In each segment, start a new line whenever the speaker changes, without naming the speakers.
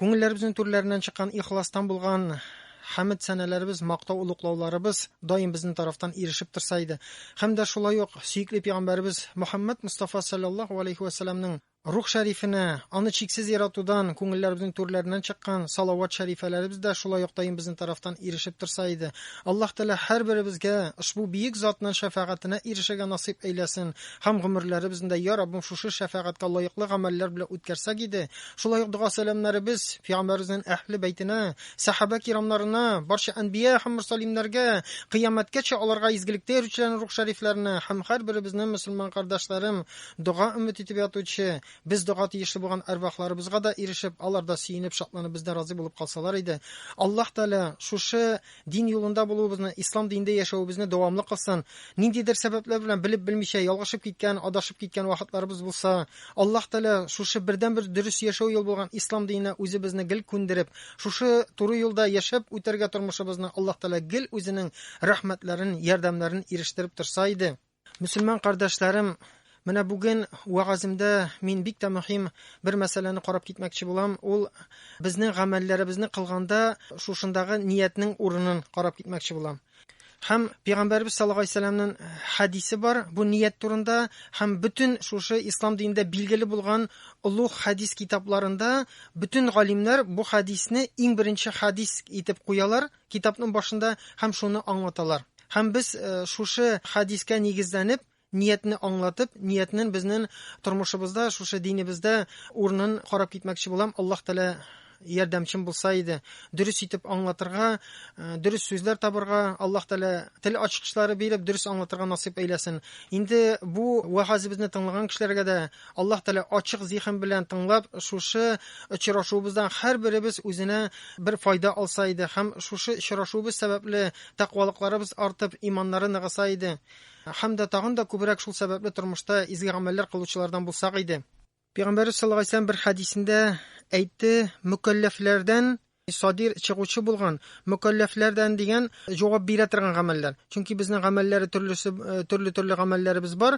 Күңелләребезнең түрләреннән чыккан ихластан булган хәмед-сәналәребез, мактау-олуглауларыбыз даим безнең тарафтан ирешеп торса иде. Һәм дә шулай ук сөекле пигамбәребез Мөхәммәд Мостафа салләллаһу алейһи вә сәлләмнең рух шәрифенә, аны чиксез яратудан күңелләребезнең түрләреннән чыккан салават шәрифәләребез дә шулай ук даим безнең тарафтан ирешеп торса иде. Аллаһ Тәгалә һәрберебезгә ошбу биек затның шәфәгатенә ирешергә насыйп әйләсен һәм гомерләребезне дә, йа Раббым, шушы шәфәгатькә лаеклы гамәлләр белән үткәрсәк иде, Шулай ук дога сәламнәребез Пәйгамбәребезнең әһле бәйтенә, сәхабә кирамнарына, барча әнбия һәм мөрсәлимнәргә, кыямәткәчә аларга изгелектә йөрүчеләрнең рух шәрифләренә һәм һәрберебезнең мөселман кардәшләрем, дога өмет итеп ятучы, без дога тиешле булган әрвахларыбызга да ирешеп, алар да сөенеп, шатланып бездән разый булып калсалар иде. Аллаһ Тәгалә шушы Дин юлында булуыбызны, ислам динендә яшәвебезне дәвамлы кылсын. Ниндидер сәбәпләр белән белеп-белмичә ялгышып киткән, адашып киткән вакытларыбыз булса, Аллаһ Тәгалә шушы бердәнбер дөрес яшәү юл булган ислам диненә үзебезне гел күндереп, шушы туры юлда яшәп үтәргә тормышыбызны Аллаһ Тәгалә гел үзенең рәхмәтләрен, ярдәмнәрен ирештереп торса иде. Мөселман кардәшләрем, менә бүген вәгаземдә мин бик тә мөһим бер мәсьәләне карап китмәкче булам. Ул безнең гамәлләребезне кылганда шушындагы ниятнең урынын карап китмәкче булам. Һәм Пәйгамбәрбез саллаллаху алейһи вәсәлләмнең хәдисе бар бу ният турында һәм бөтен шушы ислам динендә билгеле булган олуг хәдис китапларында бөтен галимнәр бу хәдисне иң беренче хәдис итеп куялар Китапның башында һәм шуны аңлаталар. Һәм без шушы хәдискә нигезләнеп, ниятне аңлатып, ниятнен безнен тормышыбызда, шушы динебездә урынын карап китмәкче булам. Аллаһ Тәгалә ярдәмчем булса иде, дөрес итеп аңлатырга, дөрес сүзләр табырга, Аллаһ Тәгалә тел ачкычлары биреп, дөрес аңлатырга насыйп әйләсен. Инде бу вәгазебезне тыңлаган кешеләргә дә Аллаһ Тәгалә ачык зиһен белән тыңлап, шушы очрашуыбыздан һәрберебез үзенә бер файда алса иде һәм шушы очрашуыбыз сәбәпле тәкъвалыкларыбыз артып, иманнары ныгыса иде. Һәм дә тагын да күбрәк шул сәбәпле тормышта изге гамәлләр кылучылардан булсак иде. Пәйгамбәрбез саллаллаһу алейһи ва сәлләм бер хәдисендә әйтте, мөкәлләфләрдән Садир, чыгучы булган, мөкәлләфләрдән дигән җавап бирә торган гамәлләр. Чөнки безнең гамәлләре төрлесе, төрле-төрле гамәлләребез бар.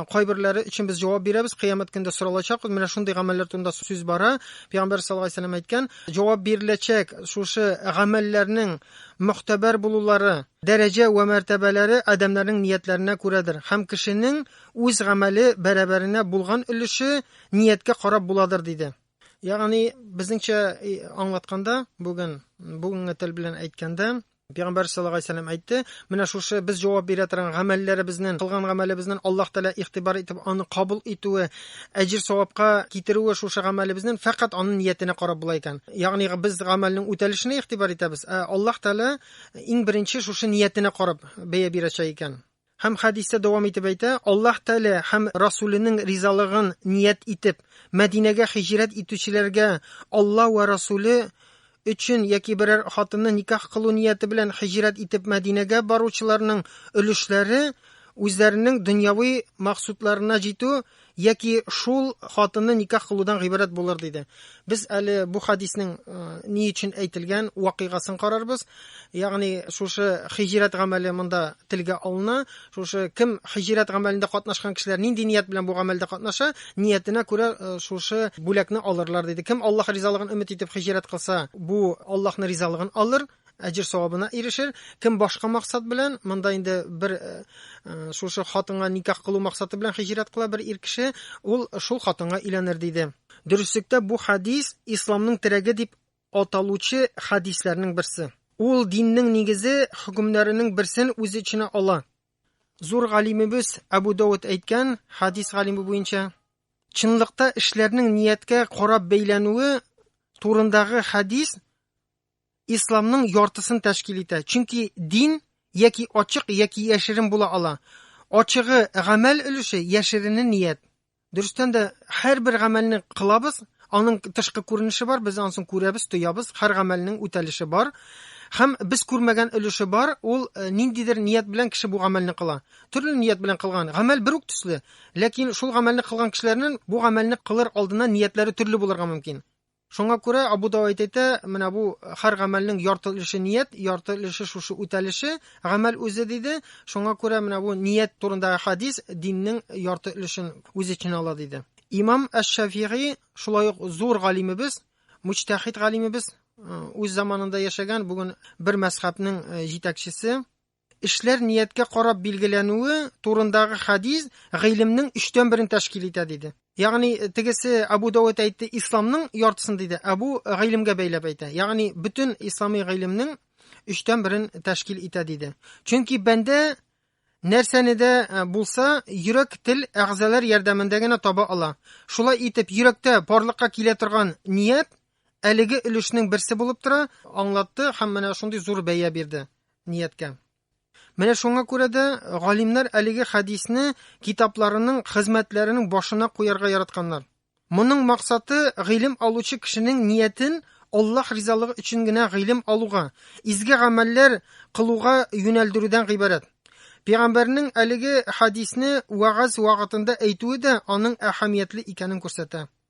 Кайберләре өчен без җавап бирәбез, кыямәт көндә соралачакбыз. Менә шундый гамәлләр турында сүз бара. Пәйгамбәр саллаллаһу алейһи ва сәлләм әйткән, җавап биреләчәк шушы гамәлләрнең мөгътәбәр булулары, дәрәҗә вә мәртәбәләре адәмнәрнең ниятләренә күрәдер һәм кешенең үз гамәле бәрабәренә булган өлеше нияткә карап буладыр, диде. Ягъни безнеңчә аңлатканда, бүген бүгенге тел белән әйткәндә, Пәйгамбәр саллаллаһу алейһи вәсәлләм әйтте, менә шушы без җавап бирә торган гамәлләребезнең, кылган гамәлебезнең Аллаһ Тәгалә игътибар итеп аны кабул итүе, әҗир савапка китерүе шушы гамәлебезнең фәкать аның ниятенә карап була икән. Ягъни без гамәлнең үтәлешенә игътибар итәбез, ә Аллаһ Тәгалә иң беренче шушы ниятенә карап бәя бирәчәк икән. Һәм хәдистә дәвам итеп әйтә, Аллаһ Тәгалә һәм Расүленең ризалыгын ният итеп, Мәдинәгә хиҗрәт итүчеләргә Алла вә Расүле өчен яки берәр хатынны никах кылу нияте белән хиҗрәт итеп Мәдинәгә баручыларның өлешләре үзләренең дөньяви максудларына җитү Яки шул хатынны никах кылудан гыйбарәт булыр диде. Без әле бу хадиснең э, ни өчен әйтелгән вакыйгасын карарбыз. Ягъни шушы хиҗрәт гамәле монда телгә алына. Шушы кем хиҗрәт гамәлендә катнашкан кешеләр нинди ният белән бу гамәлдә катнаша, ниятенә күрә э, шушы бүләкне алырлар диде. Кем Аллаһ ризалыгын өмет итеп хиҗрәт кылса, бу Аллаһның ризалыгын алыр. әҗер савабына ирешер. Кем башка максат белән, монда инде бер э, э, шушы хатынга никах кылу максаты белән хиҗрәт кыла бер ир кеше, ул шул хатынга өйләнер диде. Дөреслектә бу хадис исламның терәге дип аталучы хадисләрнең берсе. Ул диннең нигезе хөкемнәренең берсен үз эченә ала. Зур галимебез Абу Дауд әйткән хадис галиме буенча, чынлыкта эшләрнең нияткә карап бәйләнүе турындагы хадис исламның яртысын тәшкил итә. Чөнки дин яки ачык, яки яшерен була ала. Ачыгы гамәл өлеше, яшерене ният. Дөрестән дә һәрбер гамәлне кылабыз, аның тышкы күренеше бар, без ансын күрәбез, тоябыз, һәр гамәлнең үтәлеше бар. Һәм без күрмәгән өлеше бар, ул э, ниндидер ният белән кеше бу гамәлне кыла. Төрле ният белән кылган. Гамәл бер үк төсле, ләкин шул гамәлне кылган кешеләрнең бу гамәлне кылыр алдына ниятләре төрле булырга мөмкин. Шуңа күрә Абу Давайд әйтә, менә бу һәр гамәлнең ярты өлеше ният, ярты өлеше шушы үтәлеше, гамәл үзе диде. Шуңа күрә менә бу ният турындагы хадис диннең ярты өлешен үз эченә ала диде. Имам Әш-Шафигый шулай ук зур галимебез, мучтахид галимебез, үз заманында яшәгән, бүген бер мәзхәбнең җитәкчесе, Эшләр нияткә карап билгеләнүе турындагы хадис гыйлемнең өчтән берен тәшкил итә, диде. Ягъни тегесе Абу Давуд әйтте, исламның яртысын диде. Абу гыйлемгә бәйләп әйтә. Ягъни бөтен ислами гыйлемнең өчтән берен тәшкил итә, диде. Чөнки бәндә нәрсәне дә э, булса йөрәк тел әгъзалар ярдәмендә генә таба ала шулай итеп йөрәктә барлыкка килә торган ният әлеге өлешнең берсе булып тора аңлатты һәм менә шундый зур бәя бирде нияткә. Менә шуңа күрә дә галимнәр әлеге хәдисне китапларының, хезмәтләренең башына куярга яратканнар. Моның максаты гыйлем алучы кешенең ниятен Аллаһ ризалыгы өчен генә гыйлем алуга, изге гамәлләр кылуга юнәлдерүдән гыйбарәт. Пәйгамбәрнең әлеге хәдисне вәгазь вакытында әйтүе дә аның әһәмиятле икәнен күрсәтә.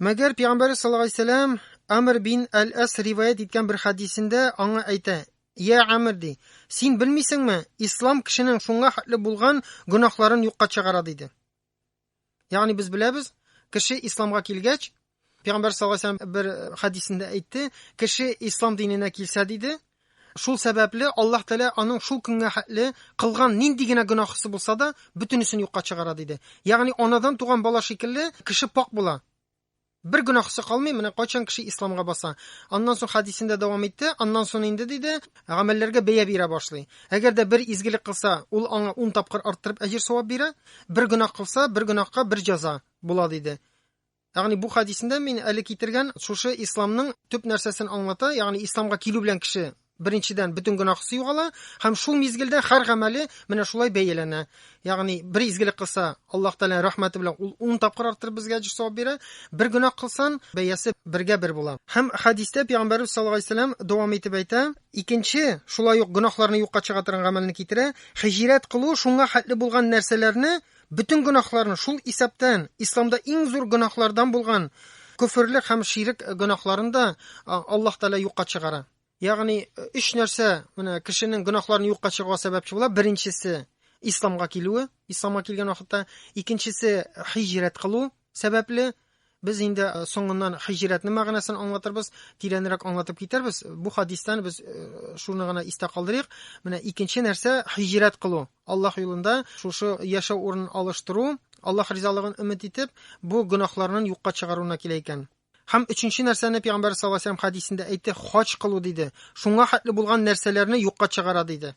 Мәгәр пигамбәр саллаллаһу алейһи сәләм Амр бин Әл-Әс риваять иткән бер хәдисендә аңа әйтә, Я Амр ди, син белмисеңме, ислам кешенең шуңа хәтле булган гөнаһларын юкка чыгара диде. Ягъни без беләбез, кеше исламга килгәч, пигамбәр саллаллаһу алейһи сәләм бер хәдисендә әйтте, кеше ислам диненә килсә диде, Шул сәбәпле Аллаһ Тәгалә аның шул көнгә хәтле кылган нинди генә гөнаһысы булса да, бөтенесен юкка чыгара, диде. Ягъни анадан туган бала шикелле кеше пакь була. Бер гөнаһысы калмый, менә кайчан кеше исламга баса. Аннан соң хәдисендә дәвам итте, аннан соң инде диде, гамәлләргә бәя бирә башлый. Әгәр дә бер изгелек кылса, ул аңа ун тапкыр арттырып әҗер-савап бирә, бер гөнаһ кылса, бер гөнаһка бер җәза була, диде. Ягъни бу хәдисендә мин әле китергән шушы исламның төп нәрсәсен аңлата, ягъни исламга килү белән кеше беренчедән бөтен гөнаһысы югала һәм шул мизгелдә һәр гамәле менә шулай бәяләнә. Ягъни бер изгелек кылса, Аллаһ Тәгалә рәхмәте белән ул 10 тапкыр арттырып безгә әҗер савап бирә. Бер гөнаһ кылсан, бәясе бергә бер була. Һәм хәдистә Пәйгамбәрбез саллаллаһу алейһи вәсәлләм дәвам итеп әйтә, икенче шулай ук гөнаһларны юкка чыга торган гамәлне китерә, хиҗрәт кылу шуңа хәтле булган нәрсәләрне Бөтен гөнаһларын, шул исәптән исламда иң зур гөнаһлардан булган көферлек һәм ширек гөнаһларын да Аллаһ Тәгалә юкка чыгара. Ягъни өч нәрсә менә кешенең гөнаһларын юкка чыгаруга сәбәпче була. Беренчесе исламга килүе, исламга килгән вакытта, икенчесе хиҗрәт кылу, сәбәпле без инде э, соңыннан хиҗрәтнең мәгънәсен аңлатырбыз, тирәнрәк аңлатып китербез. Бу хадистан без э, шуны гына истә калдырыйк. Менә икенче нәрсә хиҗрәт кылу. Аллаһ юлында шушы яшәү урынын алыштыру, Аллаһ ризалыгын өмет итеп, бу гөнаһларның юкка чыгаруына килә икән. Һәм өченче нәрсәне Пәйгамбәр саллаллаһу алейһи ва хадисендә әйтте, хаҗ кылу диде. Шуңа хәтле булган нәрсәләрне юкка чыгара диде.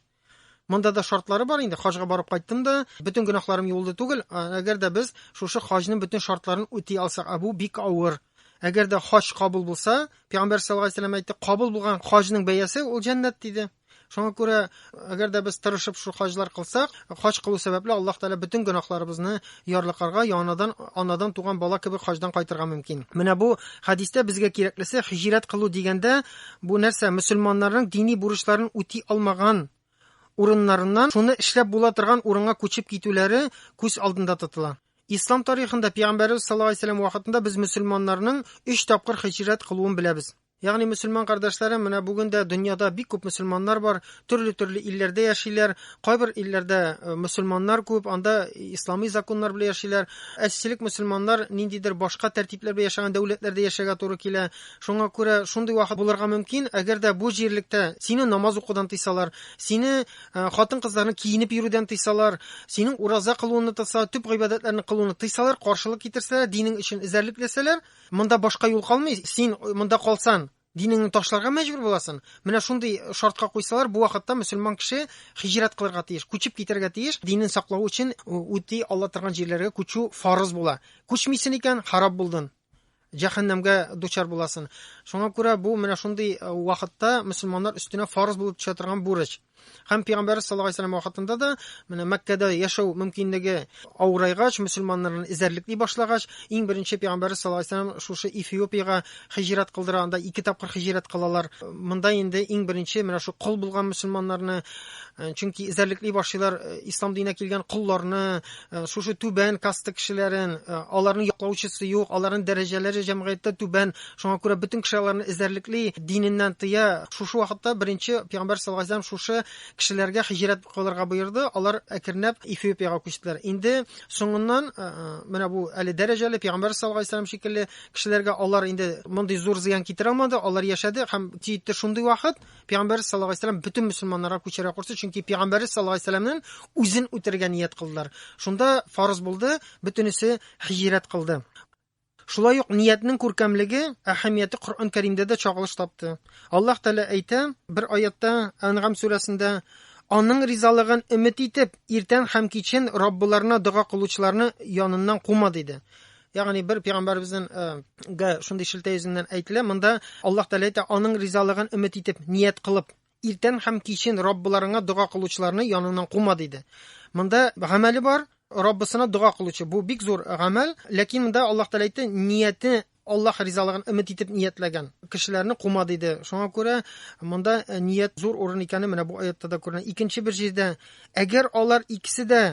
Монда да шартлары бар инде. Хаҗга барып кайттым да, бөтен гөнаһларым юылды түгел. Әгәр дә без шушы хаҗның бөтен шартларын үти алсак, ә бу бик авыр. Әгәр дә хаҗ кабул булса, Пәйгамбәр саллаллаһу алейһи вәсәлләм әйтте, кабул булган хаҗның бәясе ул җәннәт диде. Шуңа күрә, әгәр дә без тырышып шул хаҗлар кылсак, хаҗ кылу сәбәпле Аллаһ Тәгалә бөтен гөнаһларыбызны Ярлыкарга яанадан анадан туган бала кебек хаҗдан кайтырга мөмкин. Менә бу хәдистә безгә кирәклесе һиҗрәт кылу дигәндә, бу нәрсә, мөселманнарның дини бурычларын үти алмаган урыннарыннан шуны эшләп була торган урынга күчеп китүләре күз алдында тотыла. Ислам тарихында Пәйгамбәребез саллаллаһу алейһи вә сәлләм вакытында без мөселманнарның өч тапкыр һиҗрәт кылуын беләбез. Ягъни мөселман кардәшләрем, менә бүген дә дөньяда бик күп мөселманнар бар, төрле-төрле илләрдә яшиләр. Кайбер илләрдә э, мөселманнар күп, анда исламый законнар белән яшиләр. Әсчелек мөселманнар ниндидер башка тәртипләр белән яшәгән дәүләтләрдә яшәргә туры килә. Шуңа күрә шундый вакыт булырга мөмкин, әгәр дә бу җирлектә сине намаз укудан тыйсалар, сине э, хатын-кызларны киенеп йөрүдән тыйсалар, синең ураза кылуыңны тыйса, төп гыйбадәтләрне кылуны тыйсалар, каршылык китерсәләр, динең өчен эзәрлекләсәләр, Монда башка юл калмый, син монда калсан, динеңне ташларга мәҗбүр буласың. Менә шундый шартка куйсалар, бу вакытта мөселман кеше хиҗрәт кылырга тиеш, күчеп китәргә тиеш. Динен саклау өчен үти алла торган җирләргә күчү фарыз була. Күчмисен икән, харап булдың. Җәһәннәмгә дучар буласың. Шуңа күрә бу менә шундый вакытта мөселманнар өстенә фарыз булып төшә торган бурыч. Һәм пәйгамбәрбез саллаллаһу алейһи вәсәлләм вакытында да менә Мәккәдә яшәү мөмкинлеге авырайгач, мөселманнарны эзәрлекли башлагач, иң беренче пәйгамбәрбез саллаллаһу алейһи вәсәлләм шушы Эфиопиягә хиҗрәт кылдыра, анда ике тапкыр хиҗрәт кылалар. Монда инде иң беренче менә шу кол булган мөселманнарны, э, чөнки эзәрлекли башлыйлар э, ислам диненә килгән колларны, э, шушы түбән каста кешеләрен, аларның яклаучысы юк, аларның дәрәҗәләре җәмгыятьтә түбән, Шуңа күрә бөтен кеше аларны эзәрлекли, диненнән тыя. Шушы вакытта беренче пәйгамбәр саллаллаһу алейһи шушы кешеләргә хиҗрәт кылырга буйырды. Алар әкренләп Эфиопиягә күчтеләр. Инде соңыннан э, э, менә бу әле дәрәҗәле пәйгамбәр саллаллаһу алейһи шикелле кешеләргә алар инде мондый зур зыян китерә алмады. Алар яшәде һәм җитте шундый вакыт пәйгамбәр саллаллаһу алейһи ва бөтен мөселманнарга күчәргә кушты, чөнки пәйгамбәр саллаллаһу алейһи ва үзен үтергә ният кылдылар. Шунда фарыз булды, бөтенесе хиҗрәт кылды. Шулай ук ниятнең күркәмлеге, әһәмияте Коръән Кәримдә дә чагылыш тапты. Аллаһ Тәгалә әйтә, бер аятта, Әнгам сүрәсендә, Аның ризалыгын өмет итеп, иртән һәм кичен Раббыларына дога кылучыларны яныннан кума, диде. Ягъни бер пәйгамбәребезнең э, гә шундый шелтә йөзеннән әйтелә. Монда Аллаһ Тәгалә әйтә, аның ризалыгын өмет итеп, ният кылып, Иртән һәм кичен Раббыларыңа дога кылучыларны яныңнан кума, диде. Монда гамәле бар, Раббысына дога кылучы. Бу бик зур гамәл, ләкин монда Аллаһ Тәгалә әйтте, нияте Аллаһ ризалыгын өмет итеп ниятләгән кешеләрне кума диде. Шуңа күрә монда э, ният зур урын икәне менә бу аятта да күренә. Икенче бер җирдә, әгәр алар икесе дә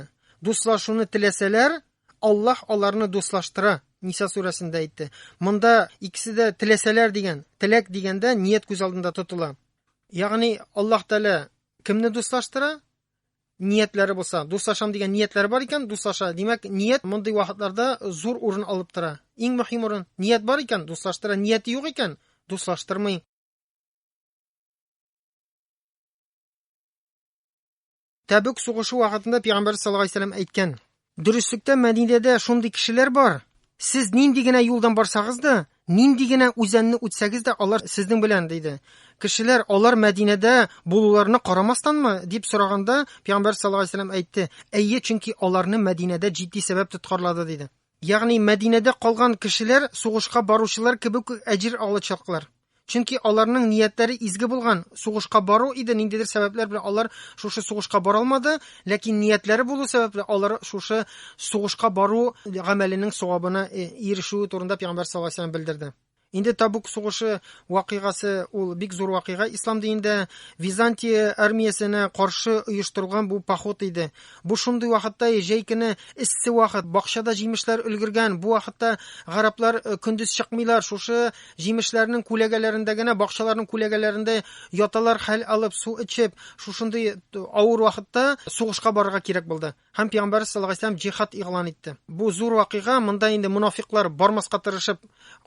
дуслашуны теләсәләр, Аллаһ аларны дуслаштыра, Ниса сүрәсендә әйтте. Монда икесе дә теләсәләр дигән, теләк дигәндә ният күз алдында тотыла. Ягъни Аллаһ Тәгалә кемне дуслаштыра? Ниятләре булса, дуслашам дигән ниятләре бар икән, дуслаша. Димәк, ният мондый вакытларда зур урын алып тора. Иң мөһим урын. Ният бар икән, дуслаштыра. Нияте юк икән, дуслаштырмый. Тәбүк сугышы вакытында Пәйгамбәр саллаллаху алейһи вәсәлләм әйткән. Дөреслектә Мәдинәдә шундый кешеләр бар. Сез нинди генә юлдан барсагыз да, нинди генә үзәнне үтсәгез дә, алар сезнең белән, диде. Кешеләр алар Мәдинәдә булуларына карамастанмы дип сораганда, Пәйгамбәр саллаллаху алейһи вәсәлләм әйтте, әйе, чөнки аларны Мәдинәдә җитди сәбәп тоткарлады, диде. Ягъни Мәдинәдә калган кешеләр сугышка баручылар кебек үк әҗер алачаклар. Чөнки аларның ниятләре изге булган, сугышка бару иде, ниндидер сәбәпләр белән алар шушы сугышка бара алмады, ләкин ниятләре булу сәбәпле алар шушы сугышка бару гамәленең савабына ирешүе турында Пәйгамбәр саллаллаһу алейһи ва сәлләм белдерде. Инде Табук сугышы вакыйгасы ул бик зур вакыйга ислам динендә Византия армиясенә каршы оештырылган бу поход иде. Бу шундый вакытта җәй көне эссе вакыт, бакчада җимешләр өлгергән. Бу вакытта гараплар э, көндез чыкмыйлар, шушы җимешләрнең күләгәләрендә генә, бакчаларның күләгәләрендә яталар, хәл алып, су эчеп, шушындый э, авыр вакытта сугышка барырга кирәк булды. Һәм пәйгамбәребез саллаллаһу алейһи вәсәлләм җихад игълан итте. Бу зур вакыйга, монда инде мунафиклар бармаска тырышып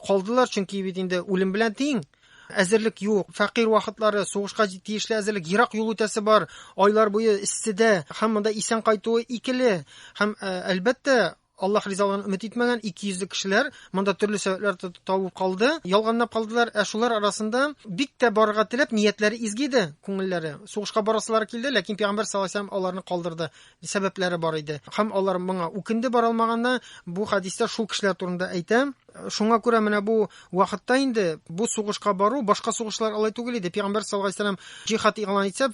калдылар, чөнки бит инде үлем белән тиң. Әзерлек юк, фәкыйрь вакытлары, сугышка тиешле әзерлек, ерак юл үтәсе бар, айлар буе эсседә, һәм монда исән кайтуы икеле. Һәм әлбәттә, Аллаһ ризалыгын өмет итмәгән ике йөзле кешеләр монда төрле сәбәпләр табып калды, ялганлап калдылар. Ә шулар арасында бик тә барырга теләп, ниятләре изге иде, күңелләре. Сугышка барасылары килде, ләкин Пәйгамбәр саллаллаһу алейһи ва сәлләм аларны калдырды. Сәбәпләре бар иде. Һәм алар моңа үкенде бара алмаганына. Бу хәдистә шул кешеләр турында әйтә. Шуңа күрә менә бу вакытта инде бу сугышка бару, башка сугышлар алай түгел иде. Пәйгамбәр саллаллаху алейһи вәсәлләм җихад игълан итсә,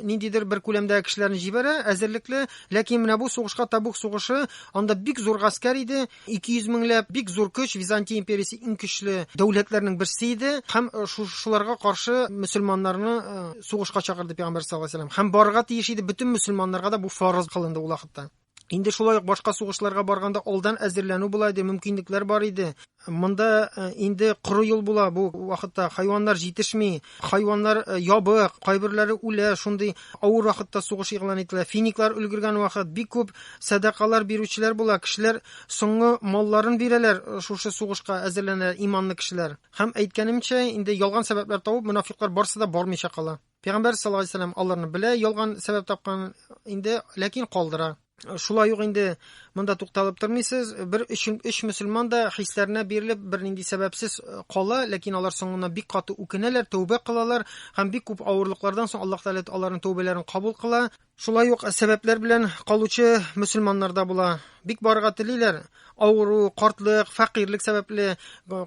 ниндидер бер күләмдә кешеләрне җибәрә, әзерлекле. Ләкин менә бу сугышка Табук сугышы, анда бик зур гаскәр иде, 200 меңләп, бик зур көч, Византия империясе иң көчле дәүләтләрнең берсе иде. Һәм э, шуларга каршы мөселманнарны э, сугышка чакырды Пәйгамбәр саллаллаху алейһи вәсәлләм. Һәм барырга тиеш иде бөтен мөселманнарга да бу фарыз кылынды ул вакытта. Инде шулай ук башка сугышларга барганда алдан әзерләнү була иде, мөмкинлекләр бар иде. Монда э, инде коры юл була бу вакытта. Хайваннар җитешми, хайваннар э, ябык, кайберләре үлә, шундый авыр вакытта сугыш игълан ителә. Финиклар өлгергән вакыт бик күп сәдакалар бирүчеләр була. Кешеләр соңгы малларын бирәләр э, шушы сугышка әзерләнә иманлы кешеләр. Һәм әйткәнемчә, инде ялган сәбәпләр табып, мунафиклар барсы да бармыйча кала. Пәйгамбәр саллаллаху алейһи вәсәлләм аларны белә, ялган сәбәп тапкан инде, ләкин калдыра. Шулай ук инде монда тукталып тормыйсыз. Бер өч, өч мөселман да хисләренә бирелеп, бернинди сәбәпсез э, кала, ләкин алар соңына бик каты үкенәләр, тәүбә кылалар һәм бик күп авырлыклардан соң Аллаһ Тәгалә аларның тәүбәләрен кабул кыла. Шулай ук сәбәпләр белән калучы мөселманнар да була. Бик барырга телиләр, авыру, картлык, фәкыйрьлек сәбәпле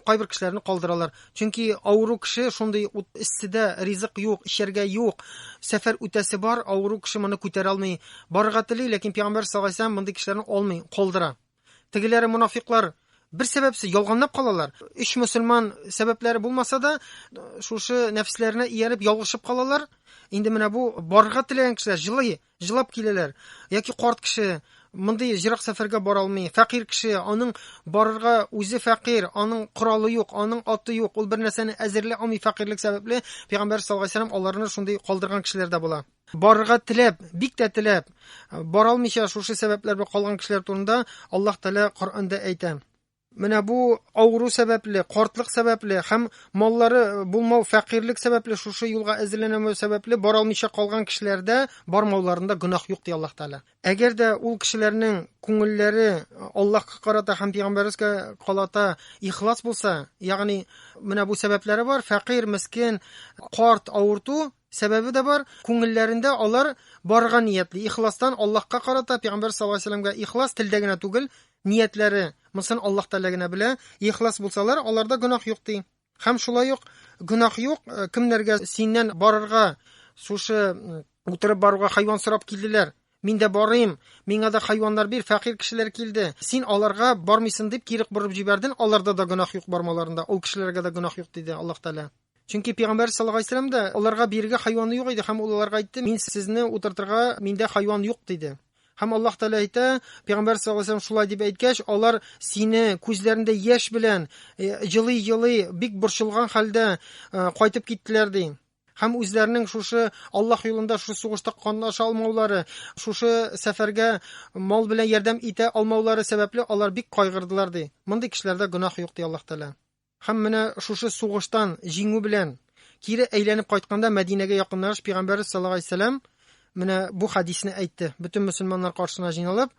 кайбер кешеләрне калдыралар. Чөнки авыру кеше шундый ут эссидә ризык юк, эчәргә юк. Сәфәр үтәсе бар, авыру кеше моны күтәрә алмый. Барырга тели, ләкин пәйгамбәр саллаллаһу алейһи ва сәлләм мондый кешеләрне алмый, калдыра. Тегеләре мунафиклар бер сәбәпсез ялганлап калалар. Өч мөселман сәбәпләре булмаса да, шушы нәфесләренә ияреп ялгышып калалар. Инде менә бу барырга теләгән кешеләр җылый, җылап киләләр. Яки карт кеше мондый җирак сәфәргә бара алмый. Фәкыйр кеше, аның барырга үзе фәкыйр, аның коралы юк, аның аты юк. Ул бер нәрсәне әзерли алмый фәкыйрлек сәбәпле. Пәйгамбәр саллаллаһу алейһи аларны шундый калдырган кешеләр дә була. барырга теләп, бик тә теләп, бара алмыйча шушы сәбәпләр белән калган кешеләр турында Аллаһ Тәгалә Коръәндә әйтә. Менә бу авыру сәбәпле, картлык сәбәпле һәм маллары булмау, фәкыйрьлек сәбәпле шушы юлга әзерләнмәү сәбәпле бара алмыйча калган кешеләрдә бармауларында гөнаһ юк ди Аллаһ Тәгалә. Әгәр дә ул кешеләрнең күңелләре Аллаһка карата һәм пәйгамбәргә карата ихлас булса, ягъни менә бу сәбәпләре бар, фәкыйрь, мескин, карт, авырту, Сәбәбе дә бар, күңелләрендә алар барырга ниятли, ихластан Аллаһка карата, пәйгамбәр саллаллаһу алейһи вәсәлләмгә ихлас, телдә генә түгел, ниятләре, монысын Аллаһ Тәгалә генә белә, ихлас булсалар, аларда гөнаһ юк ди. Һәм шулай ук гөнаһ юк, э, кемнәргә синнән барырга, шушы утырып баруга хайван сорап килделәр, мин дә барыйм, миңа да хайваннар бир, фәкыйрь кешеләр килде, син аларга бармыйсың дип кире борып җибәрден, аларда да гөнаһ юк бармаларында, ул кешеләргә дә гөнаһ юк диде Аллаһ Тәгалә. Чөнки пәйгамбәр саллаллаһу алейһи вәсәлләм дә аларга бирергә хайваны юк иде һәм ул аларга әйтте, мин сезне утыртырга миндә хайван юк диде. Һәм Аллаһ Тәгалә әйтә, пәйгамбәр саллаллаһу алейһи вәсәлләм шулай дип әйткәч, алар сине күзләрендә яшь белән җылый-җылый, э, бик борчылган хәлдә э, кайтып киттеләр ди. Һәм үзләренең шушы Аллаһ юлында шушы сугышта катнаша алмаулары, шушы сәфәргә мал белән ярдәм итә алмаулары сәбәпле алар бик кайгырдылар ди. Мондый кешеләрдә гөнаһ юк ди Аллаһ Тәгалә. Һәм менә шушы сугыштан җиңү белән кире әйләнеп кайтканда Мәдинәгә якынлагач пигамбәрбез саллаллаһу алейһи вәсәлләм менә бу хәдисне әйтте. Бөтен мөселманнар каршына җыйналып,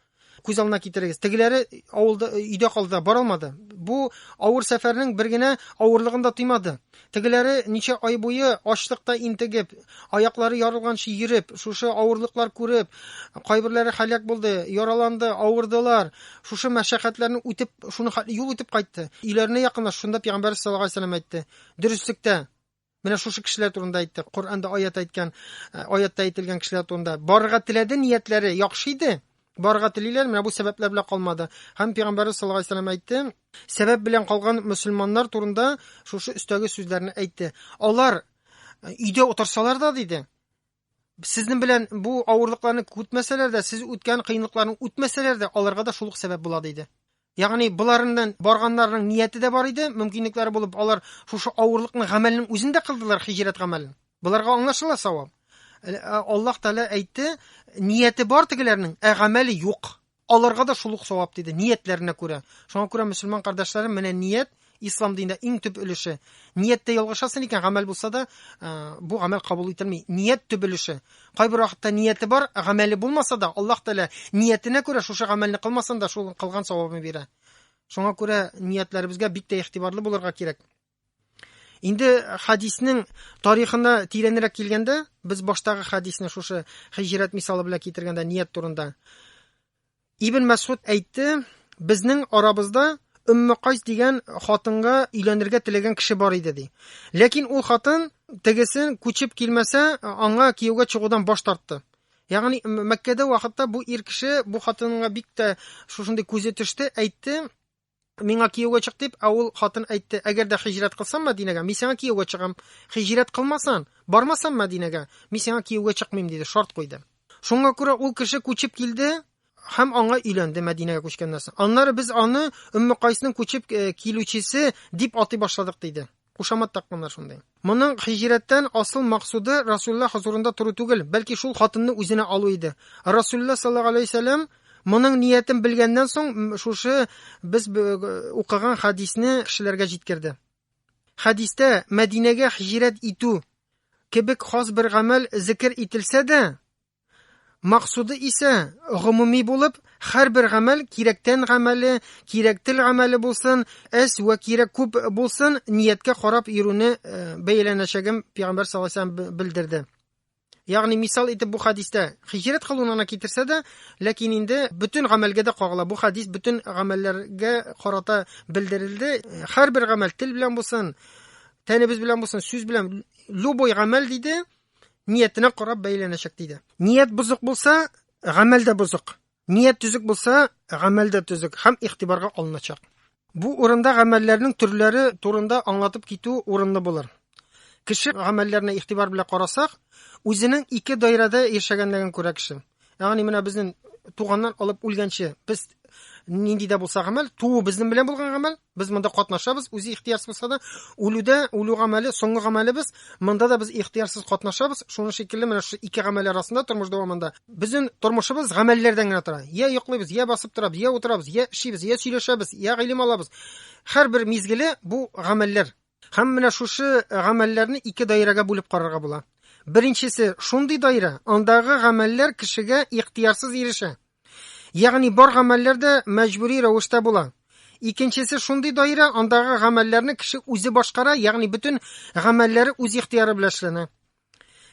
күз алдына китерегез. Тегеләре авылда өйдә калды, бара алмады. Бу авыр сәфәрнең бер генә авырлыгын да тоймады. Тегеләре ничә ай буе ачлыкта интегеп, аяклары ярылганчы йөреп, шушы авырлыклар күреп, кайберләре халәк булды, яраланды, авырдылар. шушы мәшәкатьләрне үтеп, шуны хәтле юл үтеп кайтты. Өйләренә якынлаш, шунда Пәйгамбәр саллаллаху алейһи вәсәлләм әйтте. Дөреслектә Менә шушы кешеләр турында әйтте. Коранда аят әйткән, э, аятта әйтелгән кешеләр турында. Барырга теләде, ниятләре яхшы иде. Барырга телиләр, менә бу сәбәпләр белән калмады. Һәм Пәйгамбәр саллаллаху алейһи вәсәлләм әйтте, сәбәп белән калган мусульманнар турында шушы өстәге сүзләрне әйтте. Алар э, өйдә утырсалар да диде, Сезнең белән бу авырлыкларны күтмәсәләр дә, сез үткән кыенлыкларны үтмәсәләр дә, аларга да шул ук сәбәп була диде. Ягъни боларыннан барганнарның нияте дә бар иде, мөмкинлекләре булып, алар шушы авырлыкны гамәлнең үзендә кылдылар, хиҗрәт гамәлен. Боларга аңлашыла савап. Аллаһ Тәгалә әйтте, нияте бар тегеләрнең, ә гамәле юк. Аларга да шул ук савап, диде, ниятләренә күрә. Шуңа күрә, мөселман кардәшләрем, менә ният, ислам динендә иң төп өлеше. Нияттә ялгышасың икән, гамәл булса да, бу гамәл кабул ителми. Ният төп өлеше. Кайбер вакытта нияте бар, гамәле булмаса да, Аллаһ Тәгалә ниятенә күрә шушы гамәлне кылмасын да, шул кылган савабын бирә. Шуңа күрә ниятләребезгә бик тә игътибарлы булырга кирәк. Инде хадиснең тарихына тирәнрәк килгәндә, без баштагы хадисне шушы хиҗрәт мисалы белән китергәндә ният турында. Ибн Мәсгуд әйтте, безнең арабызда Өмме Кайс дигән хатынга өйләнергә теләгән кеше бар иде ди. Ләкин ул хатын тегесен күчеп килмәсә, аңа кияүгә чыгудан баш тартты. Ягъни Мәккәдә вакытта бу ир кеше бу хатынга бик тә шушындый күзе төште, әйтте, Миңа кияүгә чык дип, ә ул хатын әйтте, әгәр дә хиҗрәт кылсам Мәдинәгә, мин сиңа кияүгә чыгам. Хиҗрәт кылмасан, бармасам Мәдинәгә, мин сиңа кияүгә чыкмыйм, диде, шарт куйды. Шуңа күрә ул кеше күчеп килде һәм аңа өйләнде Мәдинәгә күчкәннән соң. Аннары без аны Өмме Кайсның күчеп э, килүчесе дип атый башладык, диде. Кушамат такканнар шундый. Моның һиҗрәттән асыл максуды Расулла хозурында тору түгел, бәлки шул хатынны үзенә алу иде. Расулла саллаллаһу алейһи вәсәлләм моның ниятен белгәннән соң шушы без укыган хадисне кешеләргә җиткерде. Хәдистә Мәдинәгә һиҗрәт итү кебек хас бер гамәл зикер ителсә дә, Максуды исә гомуми булып, һәрбер гамәл кирәктән гамәле, кирәк тел гамәле булсын, әс вә кирәк күп булсын, нияткә карап йөрүне э, бәяләнәчәген пәйгамбәр саллаллаһу алейһи ва сәлләм белдерде. Ягъни мисал итеп бу хадистә хиҗрәт кылуны гына китерсә дә, ләкин инде бөтен гамәлгә дә кагыла. Бу хадис бөтен гамәлләргә карата белдерелде. Һәрбер гамәл тел белән булсын, тәнебез белән булсын, сүз белән, любой гамәл диде, ниятенә карап бәйләнәчәк диде. Ният бозык булса, гамәл дә бозык. Ният төзек булса, гамәл дә төзек һәм игътибарга алыначак. Бу урында гамәлләрнең төрләре турында аңлатып китү урынлы булыр. Кеше гамәлләренә игътибар белән карасак, үзенең ике даирәдә яшәгәнлеген күрә кеше. Ягъни менә безнең туганнан алып үлгәнче без нинди дә булса гамәл, туу безнең белән булган гамәл, без монда катнашабыз, үзе ихтиярсыз булса да, үлүдә, үлү гамәле, соңгы гамәлебез, монда да без ихтиярсыз катнашабыз, шуның шикелле менә шушы ике гамәл арасында тормыш дәвамында безнең тормышыбыз гамәлләрдән генә тора. Я йоклыйбыз, я басып торабыз, я утырабыз, я эшибез, я сөйләшәбез, я гыйлем алабыз. Һәр бер мизгеле бу гамәлләр. Һәм менә шушы э, гамәлләрне ике даирәгә бүлеп карарга була. Беренчесе шундый даирә, андагы гамәлләр кешегә ихтиярсыз ирешә. Ягъни бар гамәлләр дә мәҗбүри рәвештә була. Икенчесе шундый даирә, андагы гамәлләрне кеше үзе башкара, ягъни бөтен гамәлләре үз ихтияры белән эшләнә.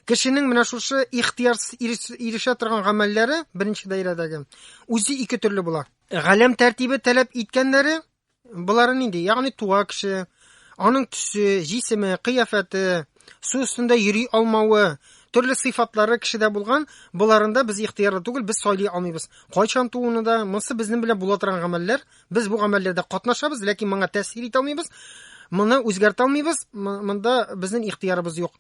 Кешенең менә шушы ихтиярсыз ирешә торган гамәлләре, беренче даирәдәге, үзе ике төрле була. Галәм тәртибе таләп иткәннәре Болары нинди? Ягъни туа кеше, аның төсе, җисеме, кыяфәте, су өстендә йөри алмавы, төрле сыйфатлары кешедә булган, боларында без ихтыярлы түгел, без сайлый алмыйбыз. Кайчан тууны да, монысы безнең белән була торган гамәлләр, без бу гамәлләрдә катнашабыз, ләкин моңа тәэсир итә алмыйбыз, моны үзгәртә алмыйбыз, монда безнең ихтыярыбыз юк.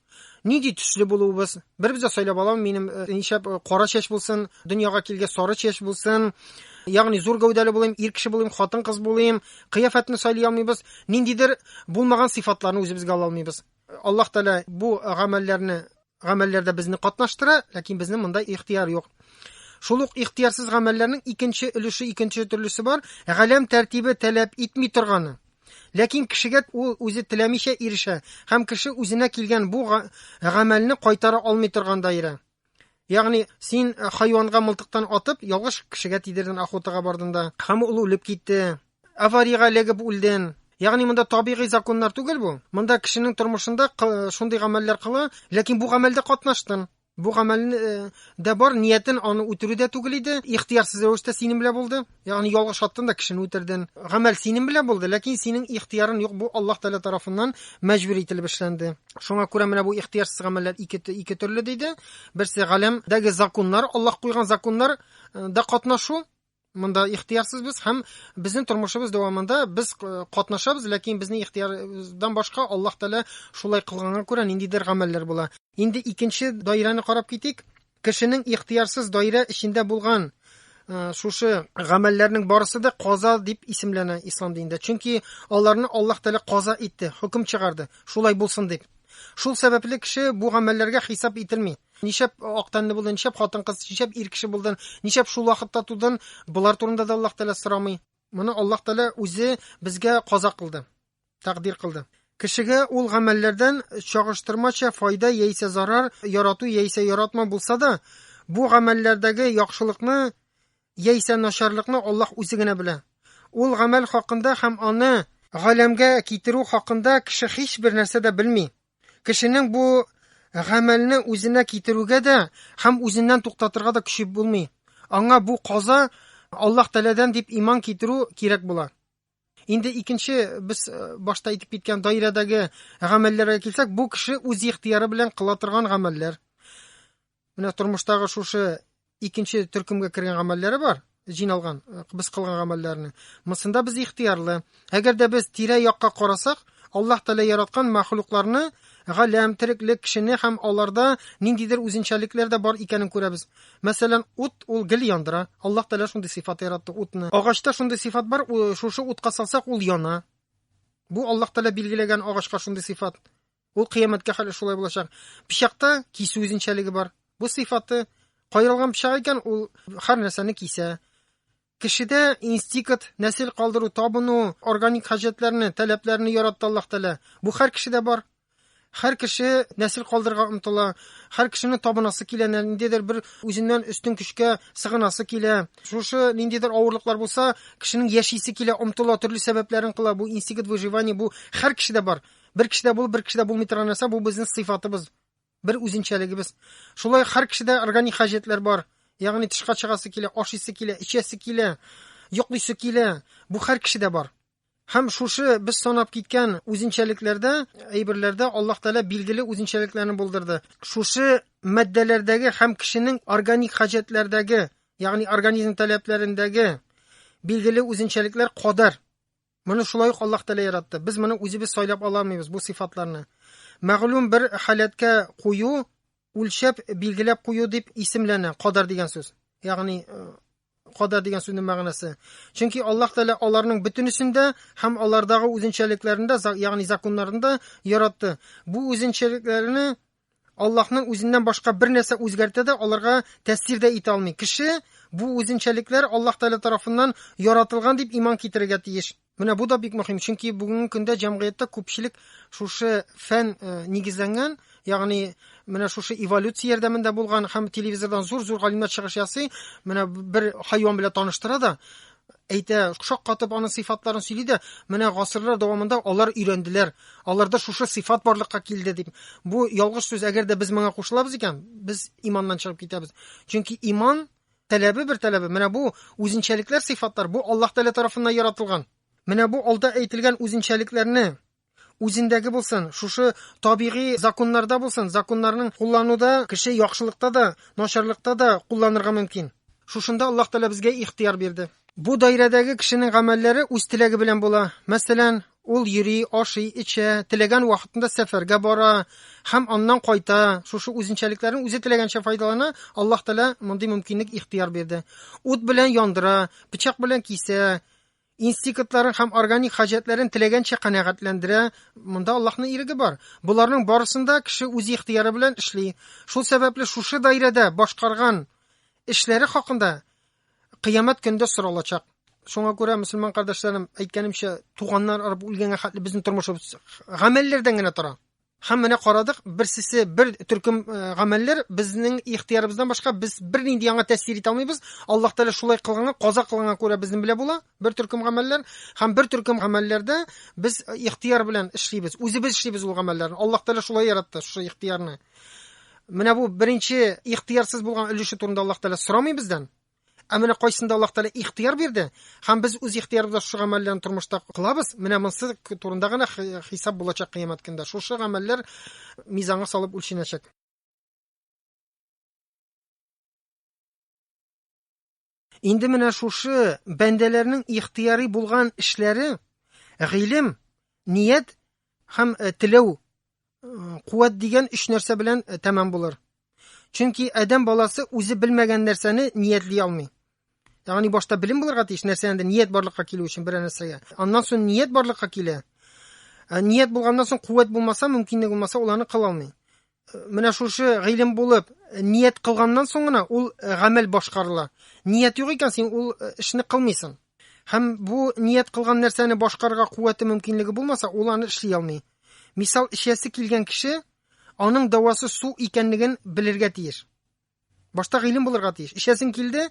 нинди төсле булуыбыз бер бездә сайлап алам минем э, ничәп э, кара чәч булсын дөньяга килгәч сары чәч булсын ягъни зур гәүдәле булыйм ир кеше булыйм хатын кыз булыйм кыяфәтне сайлый алмыйбыз ниндидер булмаган сыйфатларны үзебезгә ала алмыйбыз аллаһ тәала бу гамәлләрне гамәлләрдә безне катнаштыра ләкин безнең монда ихтияр юк шул ук ихтиярсыз гамәлләрнең икенче өлеше икенче төрлесе бар галәм тәртибе таләп итми торганы Ләкин кешегә ул үзе теләмичә ирешә һәм кеше үзенә килгән бу гамәлне кайтара алмый торган даирә. Ягъни, син э, хайванга мылтыктан атып, ялгыш кешегә тидерден охотага бардында, һәм ул үлеп китте. Авариягә эләгеп үлден. Ягъни монда табигый законнар түгел бу. Монда кешенең тормышында шундый гамәлләр кыла, ләкин бу гамәлдә катнаштын. Бу гамәлен э, дә бар, ниятен аны үтерү дә түгел иде. Ихтиярсыз рәвештә синең белән булды. Ягъни ялгыш аттың да кешене үтерден. Гамәл синең белән булды, ләкин синең ихтиярың юк. Бу Аллаһ Тәгалә тарафыннан мәҗбүр ителеп эшләнде. Шуңа күрә менә бу ихтиярсыз гамәлләр ике ике төрле диде. Берсе галәмдәге законнар, Аллаһ куйган законнар э, да катнашу, Монда ихтиярсыз без һәм безнең тормышыбыз дәвамында без э, катнашабыз, ләкин безнең ихтиярдан башка Аллаһ Тәгалә шулай кылганга күрә ниндидер гамәлләр була. Инде икенче даирәне карап китик. Кешенең ихтиярсыз даирә эчендә булган э, шушы гамәлләрнең барысы да каза дип исемләнә ислам динендә. Чөнки аларны Аллаһ Тәгалә каза итте, хөкем чыгарды, шулай булсын дип. Шул сәбәпле кеше бу гамәлләргә хисап ителми. Ничәп ак тәнле булды, ничәп хатын-кыз, ничәп ир кеше булды, ничәп шул вакытта тудын, болар турында да Аллаһ Тәгалә сорамый. Моны Аллаһ Тәгалә үзе безгә каза кылды, тәкъдир кылды. Кешегә ул гамәлләрдән чагыштырмача файда яисә зарар, ярату яисә яратма булса да, бу гамәлләрдәге яхшылыкны яисә начарлыкны Аллаһ үзе генә белә. Ул гамәл хакында һәм аны галәмгә китерү хакында кеше һичбер нәрсә дә белми. Кешенең бу гамәлне үзенә китерүгә дә һәм үзеннән туктатырга да көче булмый. Аңа бу каза Аллаһ Тәләдән дип иман китерү кирәк була. Инде икенче без э, башта әйтеп киткән даирәдәге гамәлләргә килсәк, бу кеше үз ихтияры белән кыла торган гамәлләр. Менә тормыштагы шушы икенче төркемгә кергән гамәлләре бар, җыйналган э, без кылган гамәлләрне. Монсында без ихтыярлы. Әгәр дә без тирә якка карасак, Аллаһ Тәгалә яраткан мәхлукларны, галәм, тереклек, кешене һәм аларда ниндидер үзенчәлекләр дә бар икәнен күрәбез. Мәсәлән, ут ул гел яндыра. Аллаһ Тәгалә шундый сыйфат яратты утны. Агачта шундый сыйфат бар, шушы утка салсак ул яна. Бу Аллаһ Тәгалә билгеләгән агачка шундый сыйфат. Ул кыямәткә хәле шулай булачак. Пычакта кисү үзенчәлеге бар. Бу сыйфаты кайрылган пычак икән, ул һәр нәрсәне кисә. Кешедә инстинкт, нәсел калдыру, табыну, органик хаҗәтләрне, таләпләрне яратты Аллаһ Тәгалә. Бу һәр кешедә бар. Һәр кеше нәсел калдырырга омтыла, һәр кешене табынасы килә, ниндидер бер үзеннән өстен көчкә сыгынасы килә. Шушы ниндидер авырлыклар булса, кешенең яшисе килә, омтыла, төрле сәбәпләрен кыла. Бу инстинкт выживания, бу һәр кешедә бар. Бер кешедә булып, бер кешедә булмый торган нәрсә бу безнең сыйфатыбыз, бер үзенчәлегебез. Шулай һәр кешедә органик хаҗәтләр бар. Ягъни тышка чыгасы килә, ашыйсы килә, эчәсе килә, йоклыйсы килә. Бу һәр кешедә бар. Һәм шушы без санап киткән үзенчәлекләрдә, әйберләрдә Аллаһ Тәгалә билгеле үзенчәлекләрне булдырды. Шушы матдәләрдәге һәм кешенең органик хаҗәтләрдәге, ягъни организм таләпләрендәге билгеле үзенчәлекләр кадәр Моны шулай ук Аллаһ Тәгалә яратты. Без моны үзебез сайлап ала алмыйбыз бу сыйфатларны. Мәгълүм бер халәткә кую, үлчәп, билгеләп кую дип исемләнә, кадар дигән сүз. Ягъни э, кадар дигән сүзнең мәгънәсе. Чөнки Аллаһ Тәгалә аларның бөтенесен дә һәм алардагы үзенчәлекләрендә, ягъни законнарында яратты. Бу үзенчәлекләрне Аллаһның үзеннән башка бер нәрсә үзгәртә дә, аларга тәэсир дә итә алмый. Кеше бу үзенчәлекләр Аллаһ Тәгалә тарафыннан яратылган дип иман китерергә тиеш. Менә бу да бик мөһим, чөнки бүгенге көндә җәмгыятьтә күпчелек шушы фән э, нигезләнгән, ягъни менә шушы эволюция ярдәмендә булган һәм телевизордан зур-зур галимнәр чыгыш ясый, менә бер хайван белән таныштыра да, әйтә, шаккатып аның сыйфатларын сөйли дә, менә гасырлар дәвамында алар өйрәнделәр. Аларда шушы сыйфат барлыкка килде дип. Бу ялгыш сүз, әгәр дә без моңа кушылабыз икән, без иманнан чыгып китәбез. Чөнки иман таләбе бер таләбе, менә бу үзенчәлекләр, сыйфатлар, бу Аллаһ Тәгалә тарафыннан яратылган. Менә бу алда әйтелгән үзенчәлекләрне үзендәге булсын, шушы табигый законнарда булсын, законнарның куллануда кеше яхшылыкта да, начарлыкта да кулланырга мөмкин. Шушында Аллаһ Тәгалә безгә ихтыяр бирде. Бу даирәдәге кешенең гамәлләре үз теләге белән була. Мәсәлән, ул йөри, ашый, эчә, теләгән вакытында сәфәргә бара һәм аннан кайта. Шушы үзенчәлекләрен үзе теләгәнчә файдалана. Аллаһ Тәгалә мондый мөмкинлек ихтыяр бирде. Ут белән яндыра, пычак белән кисә, инстикытларын һәм органик хаҗәтләрен теләгәнчә канәгатьләндерә. Монда Аллаһның иреге бар. Боларның барысында кеше үз ихтыяры белән эшли. Шул сәбәпле шушы даирәдә башкарган эшләре хакында кыямәт көндә соралачак. Шуңа күрә, мөселман кардәшләрем, әйткәнемчә, туганнар арып үлгәнгә хәтле безнең тормышыбыз гамәлләрдән генә тора. Һәм менә карадык, берсесе бер төркем э, гамәлләр безнең ихтиярыбыздан башка без бернинди яңа тәэсир итә алмыйбыз. Аллаһ Тәгалә шулай кылган, каза кылган күрә безнең белә була. Бер төркем гамәлләр һәм бер төркем гамәлләрдә без э, ихтияр белән эшлибез. Үзебез эшлибез ул гамәлләрне. Аллаһ Тәгалә шулай яратты шушы ихтиярны. Менә бу беренче ихтиярсыз булган өлеше турында Аллаһ Тәгалә сорамый бездән. Ә менә кайсында Аллаһ Тәгалә ихтыяр бирде, һәм без үз ихтыярыбызда шушы гамәлләрне тормышта кылабыз, менә монсы турында гына хисап булачак кыямәт көндә. Шушы гамәлләр мизанга салып үлченәчәк. Инде менә шушы бәндәләрнең ихтыярый булган эшләре гыйлем, ният һәм э, теләү Куәт дигән өч нәрсә белән э, тәмам булыр. Чөнки адәм баласы үзе белмәгән нәрсәне ниятли алмый. Ягъни башта белем булырга тиеш, нәрсәдән ният барлыкка килү өчен бер нәрсәгә. Аннан соң ният барлыкка килә. Э, ният булганнан соң куәт булмаса, мөмкинлек булмаса, ул аны кыла алмый. Э, менә шушы гыйлем булып, э, ният кылганнан соң гына ул гамәл башкарыла. Ният юк икән, син ул эшне кылмыйсың. Һәм бу ният кылган нәрсәне башкарырга куәте мөмкинлеге булмаса, ул аны эшли алмый. Мисал эчәсе килгән кеше аның дәвасы су икәнлеген белергә тиеш. Башта гыйлем булырга тиеш. Эчәсең килде,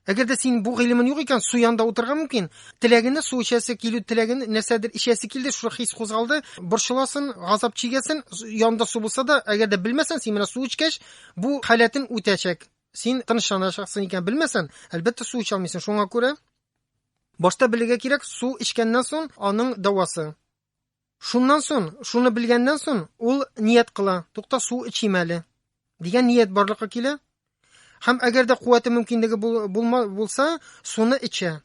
әгәр дә син бу гыйлемең юк икән, су янында утырырга мөмкин. Теләгене су эчәсе килү теләген нәрсәдер эчәсе килде, шул хис кузгалды, борчыласын, газап чигәсен, янда су булса да, әгәр дә белмәсәң, син менә су эчкәч, бу халәтен үтәчәк. Син тынычланачаксың икән, белмәсәң, әлбәттә су эчә алмыйсың. Шуңа күрә башта белергә кирәк, су эчкәннән соң аның дәвасы. Шуннан сон, шуны белгәннән сон, ул ният кыла, тукта су эчим әле, дигән ният барлыкка килә. Һәм әгәр дә куәте мөмкинлеге булма, булса, суны эчә.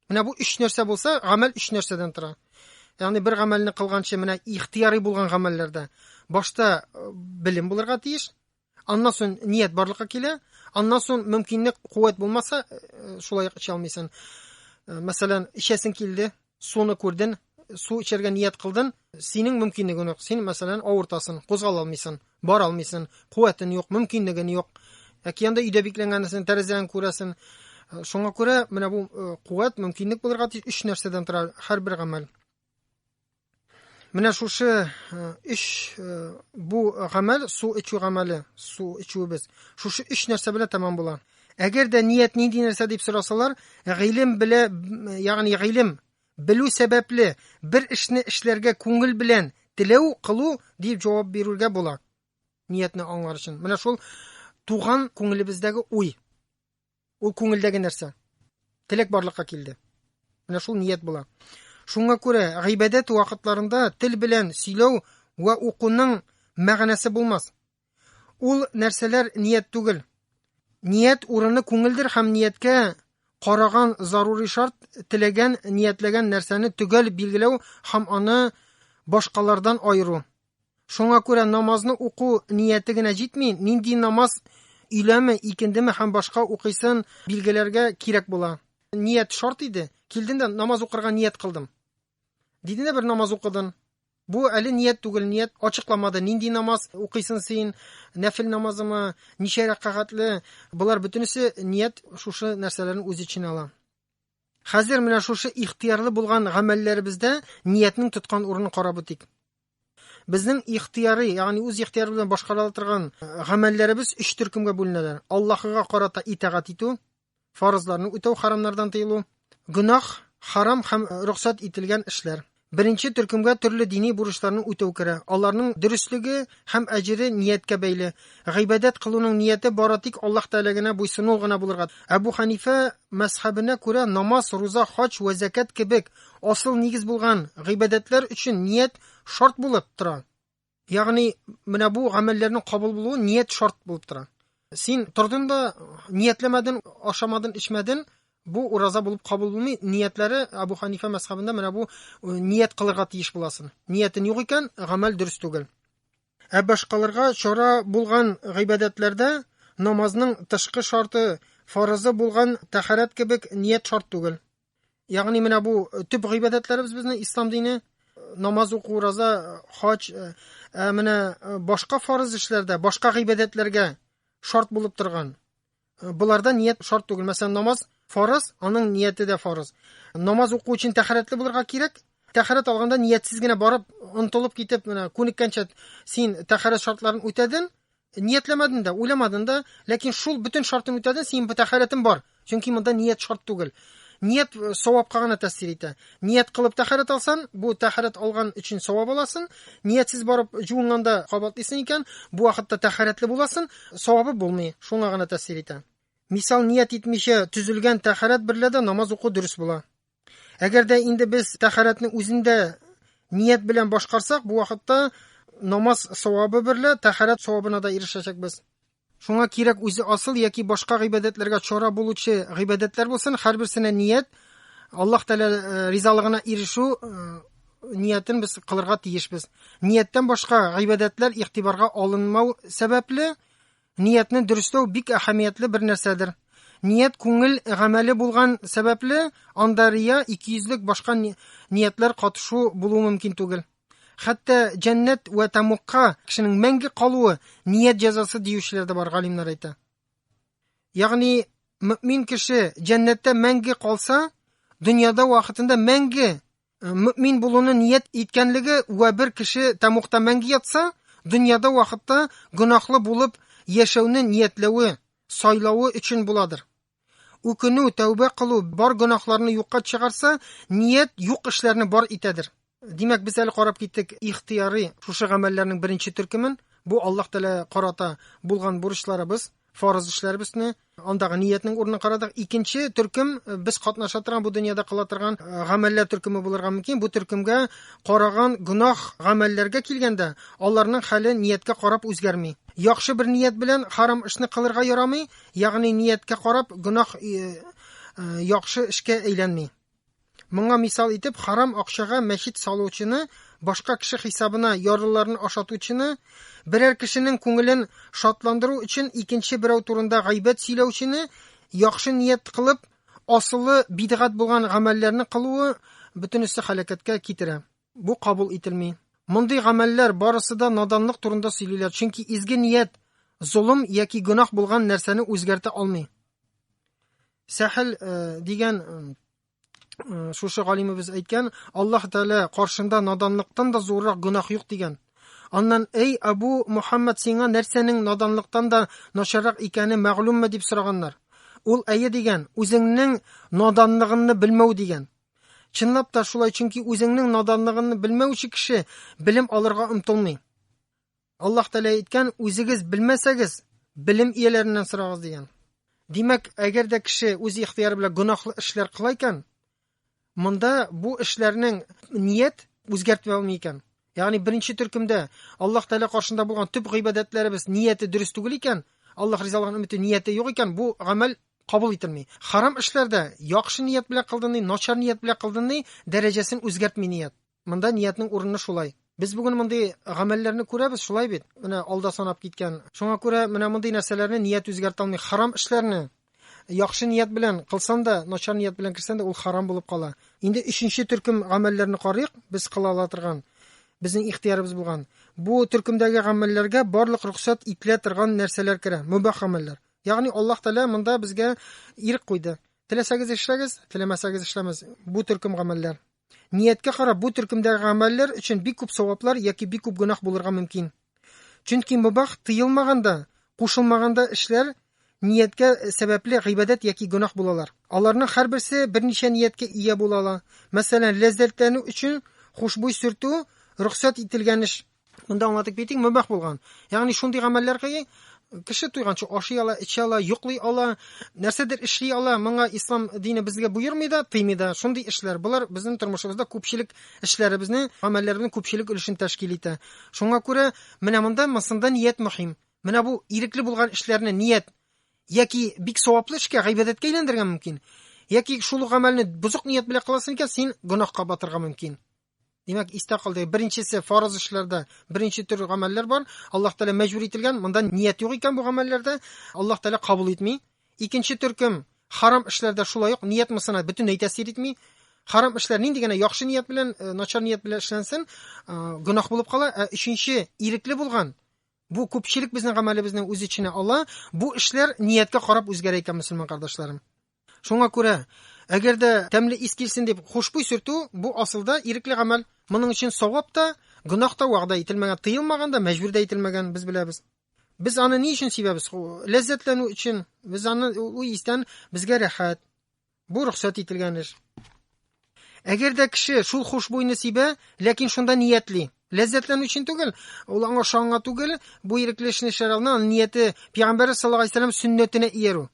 Менә бу өч нәрсә булса, гамәл өч нәрсәдән тора. Ягъни бер гамәлне кылганчы, менә ихтияри булган гамәлләрдә башта э, белем булырга тиеш, Аннан соң ният барлыкка килә, аннан соң мөмкинлек куәт булмаса, э, шулай эчә алмыйсың. Э, мәсәлән, эчәсең килде, суны күрден, су эчәргә ният кылдын, синең мөмкинлегең юк. Син, мәсәлән, авыртасың, кузгала алмыйсың, бара алмыйсың, куәтең юк, мөмкинлегең юк. Яки анда өйдә бикләнгәнсең, тәрәзәне күрәсең. Э, шуңа күрә менә бу куәт, мөмкинлек булырга тиеш өч нәрсәдән тора һәрбер гамәл. Менә шушы өч бу гамәл су эчү гамәле, су эчүебез. Шушы өч нәрсә белән тәмам була. Әгәр дә ният нинди нәрсә дип сорасалар, гыйлем белә, ягъни гыйлем белү сәбәпле бер эшне эшләргә күңел белән теләү кылу дип җавап бирергә була. Ниятне аңлар өчен. Менә шул туган күңелебездәге уй. Ул күңелдәге нәрсә. Теләк барлыкка килде. Менә шул ният була. Шуңа күрә гыйбадәт вакытларында тел белән сөйләү вә укуның мәгънәсе булмас. Ул нәрсәләр ният түгел. Ният урыны күңелдер һәм нияткә караган зарури шарт теләгән, ниятләгән нәрсәне төгәл билгеләү һәм аны башкалардан айыру. Шуңа күрә намазны уку нияте генә җитми, нинди намаз өйләме, икендеме һәм башка укыйсын билгеләргә кирәк була. Ният шарт иде. Килдем дә намаз укырга ният кылдым. Диде дә бер намаз укыдын. Бу әле ният түгел, ният ачыкламады. Нинди намаз укыйсын син? Нәфил намазымы? Ничә рәкагатьле? Болар бөтенесе ният шушы нәрсәләрне үз иченә ала. Хәзер менә шушы ихтыярлы булган гамәлләребездә ниятнең тоткан урынын карап үтик. Безнең ихтыяры, ягъни үз ихтыяры белән башкарыла торган э, гамәлләребез өч төркемгә бүленәләр. Аллаһыга карата итагать итү, фарызларны үтәү, харамнардан тыелу, гөнаһ, харам һәм э, рөхсәт ителгән эшләр. Беренче төркемгә төрле дини бурычларны үтәү керә. Аларның дөреслеге һәм әҗере нияткә бәйле. Гыйбадәт кылуның нияте бары тик Аллаһ Тәгалә генә буйсыну гына булырга. Әбу Ханифә мәзхәбенә күрә намаз, руза, хаҗ вә зәкят кебек асыл нигез булган гыйбадәтләр өчен ният шарт булып тора. Ягъни, менә бу гамәлләрнең кабул булуы ният шарт булып тора. Син тордың да ниятләмәдең, ашамадың, эчмәдең, бу ураза булып кабул булмый. Ниятләре Абу Ханифа мәсхабында менә бу э, ният кылырга тиеш буласың. Ниятен юк икән, гамәл дөрес түгел. Ә башкаларга чара булган гыйбадәтләрдә намазның тышкы шарты, фарызы булган тәхәрәт кебек ният шарт түгел. Ягъни менә бу э, төп гыйбадәтләребез безнең ислам дине, э, намаз уку, ураза, э, хаҗ, ә менә башка фарыз эшләрдә, башка гыйбадәтләргә шарт булып торган. Буларда ният шарт түгел. Мәсәлән, намаз фарыз, аның нияте дә фарыз. Намаз уку өчен тәхәрәтле булырга кирәк. Тәхәрәт алганда ниятсез генә барып, онтылып китеп, менә күнеккәнчә син тәхәрәт шартларын үтәдең, Ниятләмәден дә, уйламадын да, ләкин шул бөтен шартын үтәден, синең бөтә хәләтен бар. Чөнки монда ният шарт түгел. Ният э, савапка гына тәэсир итә. Ният кылып тәхәрәт алсан, бу тәхәрәт алган өчен савап аласын. Ниятсез барып жуынганда кабатлыйсын икән, бу вакытта тәхәрәтле буласын, савабы булмый. Шуңа гына тәэсир итә. Мисал, ният итмичә төзелгән тәхәрәт берлә дә намаз уку дөрес була. Әгәр дә инде без тәхәрәтне үзендә ният белән башкарсак, бу вакытта намаз савабы берлә тәхәрәт савабына да ирешәчәкбез. Шуңа кирәк үзе асыл яки башка гыйбадәтләргә чара булучы гыйбадәтләр булсын, һәрберсенә ният Аллаһ Тәгалә э, ризалыгына ирешү э, ниятен без кылырга тиешбез. Нияттән башка гыйбадәтләр игътибарга алынмау сәбәпле, Ниятне дөресләү бик әһәмиятле бер нәрсәдер. Ният күңел гамәле булган сәбәпле, анда рия, икейөзлек башка ниятләр катышу булу мөмкин түгел. Хәтта җәннәт вә тамукка кешенең мәңге калуы ният җәзасы диючеләр дә бар, галимнәр әйтә. Ягъни мөмин кеше җәннәттә мәңге калса, дөньяда вакытында мәңге мөмин булуны ният иткәнлеге вә бер кеше тәмугта мәңге ятса, дөньяда вакытта гөнаһлы булып яшәүне ниятләве, сайлавы өчен буладыр. Үкенү, тәүбә кылу бар гөнаһларны юкка чыгарса, ният юк эшләрне бар итәдер. Димәк, без әле карап киттек ихтыярый шушы гамәлләрнең беренче төркемен. Бу Аллаһ Тәгалә карата булган бурычларыбыз. фарыз эшләребезне андагы ниятнең урынын карадык. Икенче төркем э, без катнаша торган бу дөньяда кыла торган э, гамәлләр төркеме булырга мөмкин. Бу төркемгә караган гөнаһ гамәлләргә килгәндә, аларның хәле нияткә карап үзгәрми. Яхшы бер ният белән харам эшне кылырга ярамый, ягъни нияткә карап гөнаһ э, яхшы эшкә әйләнми. Моңа мисал итеп харам акчага мәчет салучыны, башка кеше хисабына ярлыларны ашатучыны, берәр кешенең күңелен шатландыру өчен икенче берәү турында гайбәт сөйләүчене, яхшы ният кылып, асылы бидгат булган гамәлләрне кылуы бөтенесе халәкәткә китерә. Бу кабул ителми. Мондый гамәлләр барысы да наданлык турында сөйлиләр, чөнки изге ният золым яки гөнаһ булган нәрсәне үзгәртә алмый. Сәхел э, дигән э, шушы галимебез әйткән, Аллаһ Тәгалә каршында наданлыктан да зуррак гөнаһ юк дигән. Аннан, "Эй Абу Мухаммад, сиңа нәрсәнең наданлыктан да начаррак икәне мәгълүмме?" дип сораганнар. Ул әйе дигән, үзеңнең наданлыгыңны белмәү дигән. Чынлап та шулай, чөнки үзеңнең наданлыгыңны белмәүче кеше белем алырга омтылмый. Аллаһ Тәгалә әйткән, үзегез белмәсәгез, белем ияләреннән сорагыз дигән. Димәк, әгәр дә кеше үз ихтыяры белән гөнаһлы эшләр кыла икән, монда бу эшләрнең ният үзгәртми алмый икән. Ягъни беренче төркемдә Аллаһ Тәгалә каршында булган төп гыйбадәтләребез нияте дөрес түгел икән, Аллаһ ризалыгын өмете нияте юк икән, бу гамәл кабул ителми. Харам эшләрдә яхшы ният белән кылдыны, начар ният белән кылдыны дәрәҗәсен үзгәртми ният. Монда ниятнең урыны шулай. Без бүген мондый гамәлләрне күрәбез, шулай бит? Менә алда санап киткән. Шуңа күрә менә мондый нәрсәләрне ният үзгәртә алмый. Харам эшләрне яхшы ният белән кылсан да, начар ният белән керсән дә, ул харам булып кала. Инде өченче төркем гамәлләрне карыйк, без кыла ала торган, безнең ихтиярыбыз булган. Бу төркемдәге гамәлләргә барлык рөхсәт ителә торган нәрсәләр керә, мөбах гамәлләр. Ягъни Аллаһ Тәгалә монда безгә ирек куйды. Теләсәгез эшләгез, теләмәсәгез эшләмәс. Бу төркем гамәлләр. Нияткә карап, бу төркемдәге гамәлләр өчен бик күп саваплар яки бик күп гөнаһ булырга мөмкин. Чөнки мөбах тыелмаганда, кушылмаганда эшләр нияткә сәбәпле гыйбадәт яки гөнаһ булалар. Аларның һәрберсе берничә нияткә ия була ала. Мәсәлән, ләззәтләнү өчен хушбуй сөртү рөхсәт ителгән эш, Монда аңлатып китик, мөбах булган. Ягъни шундый гамәлләр кыйы, кеше туйганча ашый ала, эчә ала, йоклый ала, нәрсәдер эшли ала. Моңа ислам дине безгә буйырмый да, тыймый да. Шундый эшләр булар безнең тормышыбызда күпчелек эшләребезне, гамәлләребезнең күпчелек өлешен тәшкил итә. Шуңа күрә менә монда мансында ният мөһим. Менә бу ирекле булган эшләрне ният яки бик саваплы эшкә, гыйбадәткә әйләндергән мөмкин. Яки шул гамәлне бузык ният белән кыласың икән, син гөнаһка батырга мөмкин. Димәк, истә калды. Беренчесе фарыз эшләрдә беренче төр гамәлләр бар. Аллаһ Тәгалә мәҗбүр ителгән, монда ният юк икән бу гамәлләрдә. Аллаһ Тәгалә кабул итми. Икенче төркем харам эшләрдә шулай ук ният мысына бөтенләй тәэсир итми. Харам эшләр нинди генә яхшы ният белән, э, начар ният белән эшләнсен, э, гөнаһ булып кала. Ә өченче ирекле булган бу күпчелек безнең гамәлебезнең үз эченә ала. Бу эшләр ниятка карап үзгәрә икән, мөселман кардәшләрем. Шуңа күрә, әгәр дә тәмле ис килсен дип хушбуй сөртү, бу асылда ирекле гамәл. Моның өчен савап та, гөнаһ та вәгъдә ителмәгән, тыелмаган да, мәҗбүр дә ителмәгән, без беләбез. Без аны ни өчен сибәбез? Ләззәтләнү өчен. Без аны ул истән безгә рәхәт. Бу рөхсәт ителгән эш. Әгәр дә кеше шул хушбуйны сибә, ләкин шунда ниятли, ләззәтләнү өчен түгел, ул аңа шаңа түгел, бу ирекле эшне эшләр алдыннан аны нияте пәйгамбәр саллаллаһу алейһи вәсәлләм сөннәтенә иярү.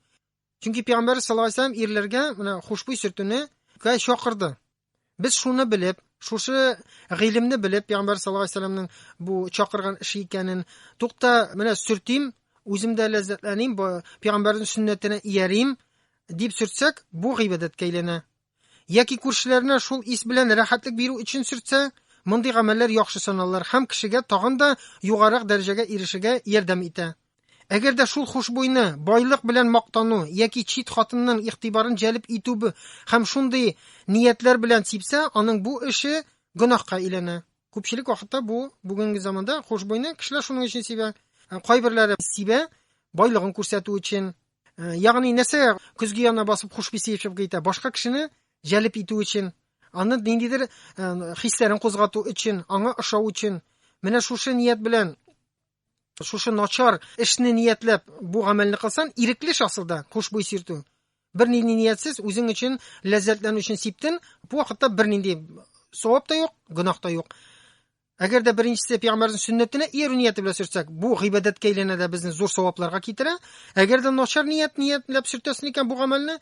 Чөнки пәйгамбәр саллаллаһу алейһи вәсәлләм ирләргә менә хушбуй сөртүне кә чакырды. Без шуны белеп, шушы гыйлемне белеп, пәйгамбәр саллаллаһу алейһи вәсәлләмнең бу чакырган эше икәнен, тукта, менә сөртим, үзем дә ләззәтләним, пәйгамбәрнең сөннәтенә иярим дип сөртсәк, бу гыйбадәткә әйләнә. яки күршеләренә шул ис белән рәхәтлек бирү өчен сөртсә, мондый гамәлләр яхшы саналыр һәм кешегә тагын да югарырак дәрәҗәгә ирешергә ярдәм итә. Әгәр дә шул хушбуйны байлык белән мактану яки чит хатынның игътибарын җәлеп итү һәм шундый ниятләр белән сипсә, аның бу эше гөнаһка әйләнә. Күпчелек вакытта бу бүгенге заманда хушбуйны кешеләр шуның өчен сибә. Кайберләре сибә, байлыгын күрсәтү өчен, Э, ягъни нәрсә көзге янына басып хушби сыйфшып китә башка кешене җәлеп итү өчен аны ниндидер э, хисләрен кузгату өчен аңа ошау өчен менә шушы ният белән шушы начар эшне ниятләп бу гамәлне кылсан ирекле шасылда хушбуй сиртү бер нинди ниятсез үзең өчен ләззәтләнү өчен сиптен бу вакытта бер нинди савап та юк гөнаһ та юк Әгәр дә беренчесе пәйгамбәрнең сөннәтенә иярү нияте белән сөртсәк, бу гыйбадәткә әйләнә дә безне зур савапларга китерә. Әгәр дә начар ният ниятләп сөртәсен икән бу гамәлне,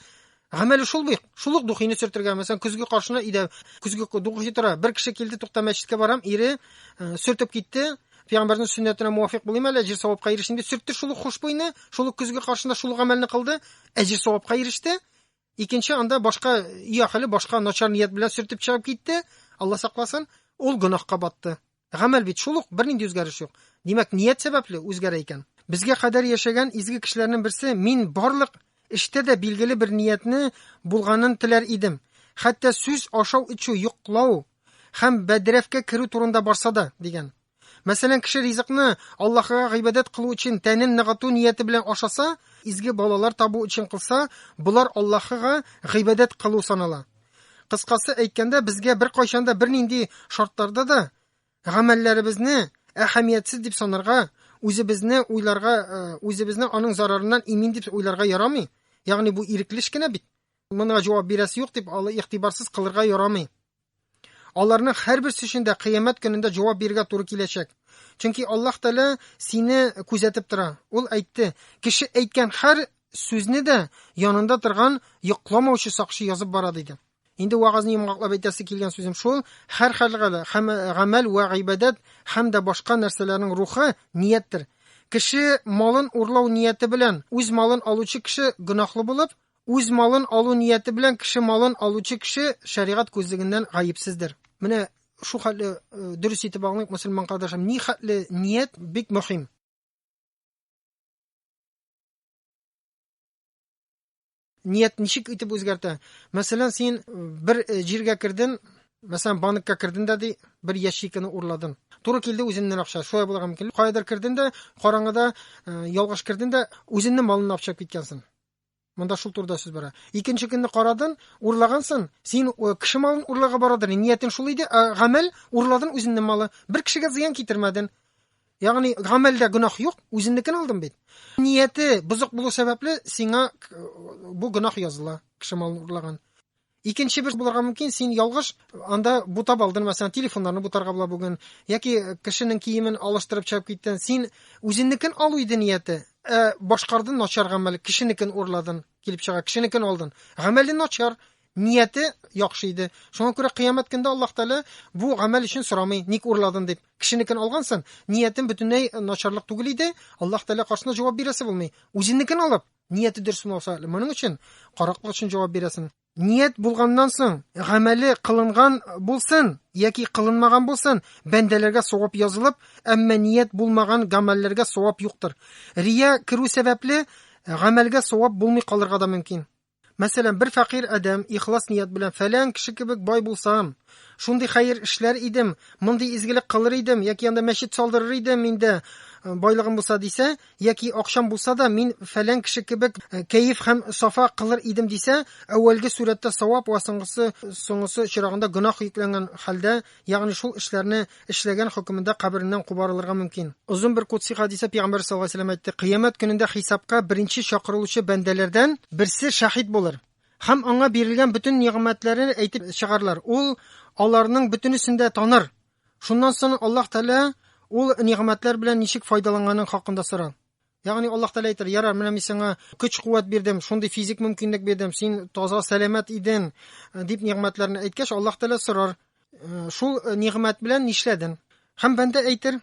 гамәле шул бик. Шул ук духины сөртергә, мәсәлән, көзге каршына идә көзге духи тора. Бер кеше килде, тукта мәчеткә барам, ире э, сөртеп китте. Пәйгамбәрнең сөннәтенә муафик булыйм әле, әҗир савапка ирешим дип сөртте шул ук хушбуйны, шул ук көзге каршында шул гамәлне кылды, әҗир савапка иреште. Икенче анда башка өй ахеле башка начар ният белән сөртеп чыгып китте, Алла сакласын, ул гөнаһка батты. Гамәл бит шул ук, бернинди үзгәреш юк. Димәк, ният сәбәпле үзгәрә икән. Безгә кадәр яшәгән изге кешеләрнең берсе, мин барлык эштә дә билгеле бер ниятне булганын теләр идем. Хәтта сүз ашау-эчү, йоклау һәм бәдрәфкә керү турында барса да, дигән. Мәсәлән, кеше ризыкны Аллаһыга гыйбадәт кылу өчен тәнен ныгыту нияте белән ашаса, изге балалар табу өчен кылса, болар Аллаһыга гыйбадәт кылу санала. Кыскасы әйткәндә, безгә беркайчан да бернинди шартларда да гамәлләребезне әһәмиятсез дип санарга, үзебезне уйларга, э, үзебезне аның зарарыннан имин дип уйларга ярамый. Ягъни бу ирекле эш кенә бит. Моңа җавап бирәсе юк дип, алы игътибарсыз кылырга ярамый. Аларның һәрберсе өчен дә кыямәт көнендә җавап бирергә туры киләчәк. Чөнки Аллаһ Тәгалә сине күзәтеп тора. Ул әйтте, кеше әйткән һәр сүзне дә янында торган йокламаучы сакчы язып бара диде. Инде вагазны йомгаклап әйтәсе килгән сүзем шул, һәр хәлгәле, һәм гамәл вә гыйбадәт һәм дә башка нәрсәләрнең рухы нияттер. Кеше малын урлау нияте белән үз малын алучы кеше гөнаһлы булып, Үз малын алу нияте белән кеше малын алучы кеше шәригать күзлегеннән гаепсездер. Менә шул хәтле э, дөрес итеп аңлыйк, мөселман кардәшем, ни хәтле ният бик мөһим. Ният ничек итеп үзгәртә? Мәсәлән, син э, бер э, җиргә керден, мәсәлән, банкка керден дә ди, бер ящикны урладын. Туры килде үзеннән акча. Шулай булырга мөмкин. Каядыр керден дә, караңгыда ялгыш керден дә, үзеннең малын акча киткәнсең. Монда шул турыда сүз бара. Икенче көнне карадын, урлагансын, син э, кеше малын урларга барадыр. Ниятен шул иде, ә гамәл урладын үзеңнең малы. Бер кешегә зыян китермәден. Ягъни гамәлдә гөнаһ юк, үзеңнекен алдым бит. Нияте бозык булу сәбәпле сиңа э, бу гөнаһ языла, кеше малын урлаган. Икенче бер булырга мөмкин, син ялгыш анда бутап алдын, мәсәлән, телефоннарны бутарга була бүген, яки кешенең киемен алыштырып чыгып киттен. Син үзенекен алу иде нияте, ә башкарды начар гамәл, кешенекен урладын, килеп чыга, кешенекен алдын. Гамәле начар, нияте яхшы иде. Шуңа күрә кыямәт көндә Аллаһ Тәгалә бу гамәл өчен сорамый, ник урладын дип. Кешенекен алгансын, ниятен бөтенләй начарлык түгел иде, Аллаһ Тәгалә каршында җавап бирәсе булмый. Үзенекен алып, Нияте дөрес булмаса, моның өчен караклык өчен җавап бирәсең. Ният булганнан соң, гамәле кылынган булсын яки кылынмаган булсын, бәндәләргә савап язылып, әмма ният булмаган гамәлләргә савап юктыр. Рия керү сәбәпле гамәлгә савап булмый калырга да мөмкин. Мәсәлән, бер фәкыйрь адәм ихлас ният белән фәлән кеше кебек бай булсам, шундый хәер эшләр идем, мондый изгелек кылыр идем, яки анда мәчет салдырыр идем инде, э, байлыгым булса дисә, яки акчам булса да, мин фәлән кеше кебек э, кәеф һәм сафа кылыр идем дисә, әүвәлге сурәттә савап ва соңгысы соңгысы чирагында гөнаһ йөкләнгән хәлдә Ягъни шул эшләрне эшләгән хөкемендә кабереннән кубарылырга мөмкин. Озын бер кудси хәдистә Пәйгамбәр саллаллаһу галәйһи ва сәлләм әйтте, Кыямәт көнендә хисапка беренче чакырылучы бәндәләрдән берсе шаһит булыр. Һәм аңа бирелгән бөтен нигъмәтләрен әйтеп чыгарлар. Ул аларның бөтенесен дә таныр. Шуннан соң Аллаһ Тәгалә ул нигъмәтләр белән ничек файдаланганын хакында сорар. Ягъни Аллаһ Тәгалә әйтер, ярар, менә мин сиңа көч-куәт бирдем, шундый физик мөмкинлек бирдем, син таза, сәламәт идең, э, дип нигъмәтләрне әйткәч, Аллаһ Тәгалә сорар, э, шул э, нигъмәт белән нишләдең? Һәм бәндә әйтер,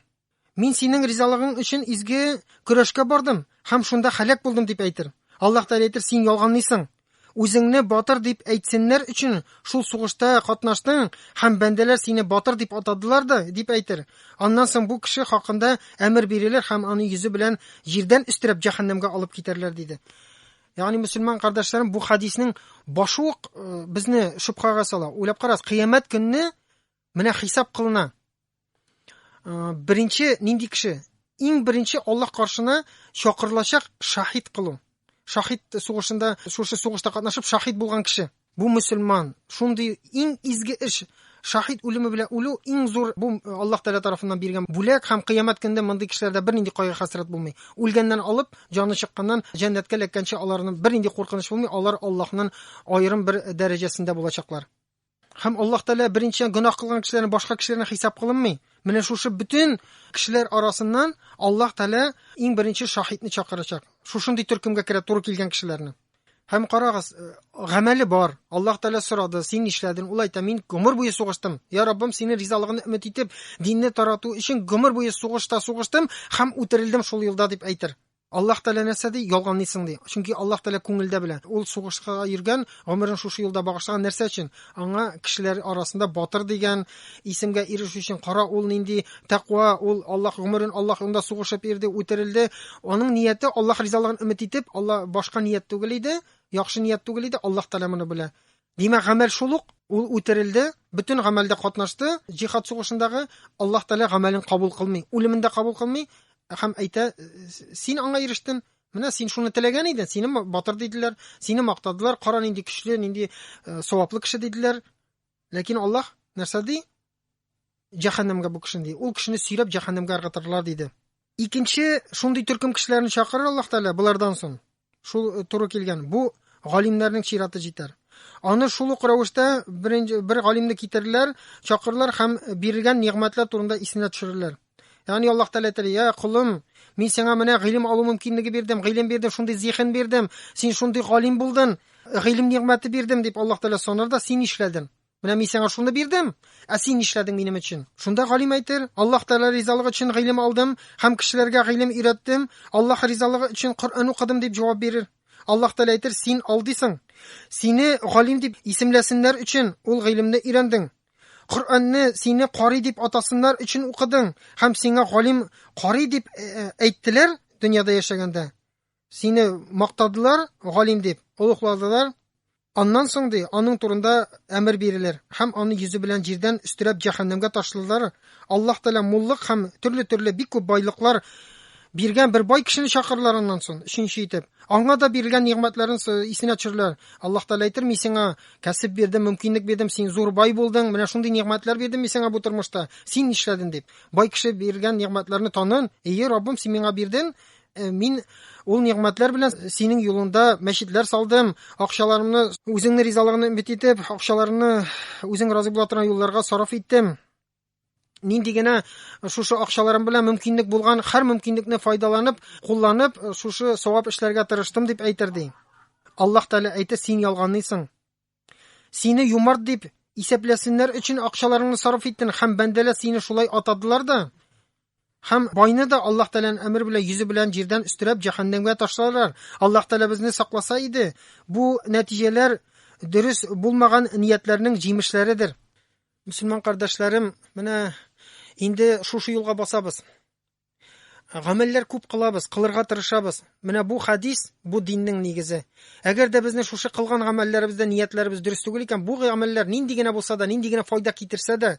мин синең ризалыгың өчен изге көрәшкә бардым һәм шунда халәк булдым дип әйтер. Аллаһ Тәгалә әйтер, син ялганлыйсың. Үзеңне батыр дип әйтсеннәр өчен шул сугышта катнаштың һәм бәндәләр сине батыр дип атадылар да, дип әйтер. Аннан соң бу кеше хакында әмер бирелер һәм аны йөзе белән җирдән өстерәп җәһәннәмгә алып китәрләр, диде. Ягъни мөселман кардәшләрем бу хадиснең башы ук э, безне шөбһәгә сала. Уйлап карагыз, кыямәт көнне Менә хисап кылына. Беренче нинди кеше? Иң беренче Аллаһ каршына чакырылачак шахид кылу. Шахид сугышында, шушы сугышта катнашып шахид булган кеше. Бу мусульман. Шундый иң изге эш. Шахид үлеме белән үлү иң зур бу Аллаһ Тәгалә тарафыннан биргән бүләк һәм кыямәт көндә мондый кешеләрдә бернинди кайгы хәсрәт булмый. Үлгәннән алып, җаны чыкканнан җәннәткә эләккәнче аларның бернинди куркыныч булмый, алар Аллаһның аерым бер дәрәҗәсендә булачаклар. Һәм Аллаһ Тәгалә беренчедән гөнаһ кылган кешеләрне башка кешеләрне хисап кылынмый. Менә шушы бөтен кешеләр арасыннан Аллаһ Тәгалә иң беренче шаһитне чакырачак. Шушындый төркемгә керә туры килгән кешеләрне. Һәм карагыз, э, гамәле бар. Аллаһ Тәгалә сорады, син нишләдең? Ул әйтә, мин гомер буе сугыштым. Я Раббым, синең ризалыгыңны өмет итеп, динне тарату өчен гомер буе сугышта сугыштым һәм үтерелдем шул юлда дип әйтер. Аллаһ Тәгалә нәрсә ди, ялганлыйсың ди. Чөнки Аллаһ Тәгалә күңелдә белә. Ул сугышка йөргән, гомерен шушы юлда багышлаган. Нәрсә өчен? Аңа кешеләр арасында батыр дигән исемгә ирешү өчен. Кара, ул нинди тәкъва, ул Аллаһ гомерен Аллаһ юлында сугышып йөрде, үтерелде. Аның нияте Аллаһ ризалыгын өмет итеп, Алла башка ният түгел иде, яхшы ният түгел иде, Аллаһ Тәгалә моны белә. Димәк, гамәл шул ук, ул үтерелде, бөтен гамәлдә катнашты, җихад сугышындагы Аллаһ Тәгалә гамәлен кабул кылмый, үлемен дә кабул кылмый һәм әйтә, син аңа ирештен, Менә син шуны теләгән идең, сине батыр диделәр, сине мактадылар, кара нинди көчле, нинди э, саваплы кеше диделәр. Ләкин Аллаһ нәрсә ди? җәһәннәмгә бу кешене ди. Ул кешене сөйрәп җәһәннәмгә ыргытырлар диде. Икенче шундый төркем кешеләрен чакырыр Аллаһ Тәгалә булардан соң. Шул э, туры килгән. Бу галимнәрнең чираты җитәр. Аны шул ук рәвештә беренче бер галимне китерерләр, чакырырлар һәм бирелгән нигъмәтләр турында исенә төшерерләр. Ягъни Аллаһ Тәгалә әйтер: "Я кулым, мин сиңа менә гыйлем алу мөмкинлеге бирдем, гыйлем бирдем, шундый зиһен бирдем, син шундый галим булдың, гыйлем нигъмәте бирдем", дип Аллаһ Тәгалә сонар да, син нишләдең? Менә мин сиңа шуны бирдем, ә син нишләдең минем өчен? Шунда галим әйтер, Аллаһ Тәгалә ризалыгы өчен гыйлем алдым һәм кешеләргә гыйлем өйрәттем, Аллаһ ризалыгы өчен Коръән укыдым дип җавап бирер. Аллаһ Тәгалә әйтер, син алдыйсың. Сине галим дип исемләсеннәр өчен ул гыйлемне өйрәндең. Коръәнне сине кари дип атасыннар өчен укыдың һәм сиңа галим кари дип э, э, әйттеләр дөньяда яшәгәндә. Сине мактадылар, галим дип, олухладылар. Аннан соң, ди, аның турында әмер бирелер, һәм аны йөзе белән җирдән өстерәп җәһәннәмгә ташлылар. Аллаһ Тәгалә муллык һәм төрле-төрле бик күп байлыклар биргән бер бай кешене чакырылар аннан соң, өченче итеп. Аңа да бирелгән нигъмәтләрен исенә төшереләр. Аллаһ Тәгалә әйтер, мин сиңа кәсеп бирдем, мөмкинлек бирдем, син зур бай булдың, менә шундый нигъмәтләр бирдем мин сиңа бу тормышта, син нишләдең дип. Бай кеше биргән нигъмәтләрне танын, ие, Раббым, син миңа бирден, Э, мин ул нигъмәтләр белән синең юлыңда мәчетләр салдым акчаларымны үзеңне ризалыгыңны өмет итеп акчаларымны үзең разый була торган юлларга сарыф иттем нинди генә шушы акчаларым белән мөмкинлек булган һәр мөмкинлекне файдаланып кулланып шушы савап эшләргә тырыштым дип әйтер ди аллаһ тәгалә әйтә син ялганлыйсың Сине юмарт дип исәпләсеннәр өчен акчаларыңны сарыф иттен һәм бәндәләр сине шулай атадылар да. Һәм байны да Аллаһ Тәгаләнең әмер белән йөзе белән җирдән өстерәп җәһәннәмгә ташларлар. Аллаһ Тәгалә безне сакласа иде, бу нәтиҗәләр дөрес булмаган ниятләрнең җимешләредер. Мөселман кардәшләрем, менә инде шушы юлга басабыз. Гамәлләр күп кылабыз, кылырга тырышабыз. Менә бу хадис, бу диннең нигезе. Әгәр дә безне шушы кылган гамәлләребездә ниятләребез дөрес түгел икән, бу гамәлләр нинди генә булса да, нинди генә файда китерсә дә,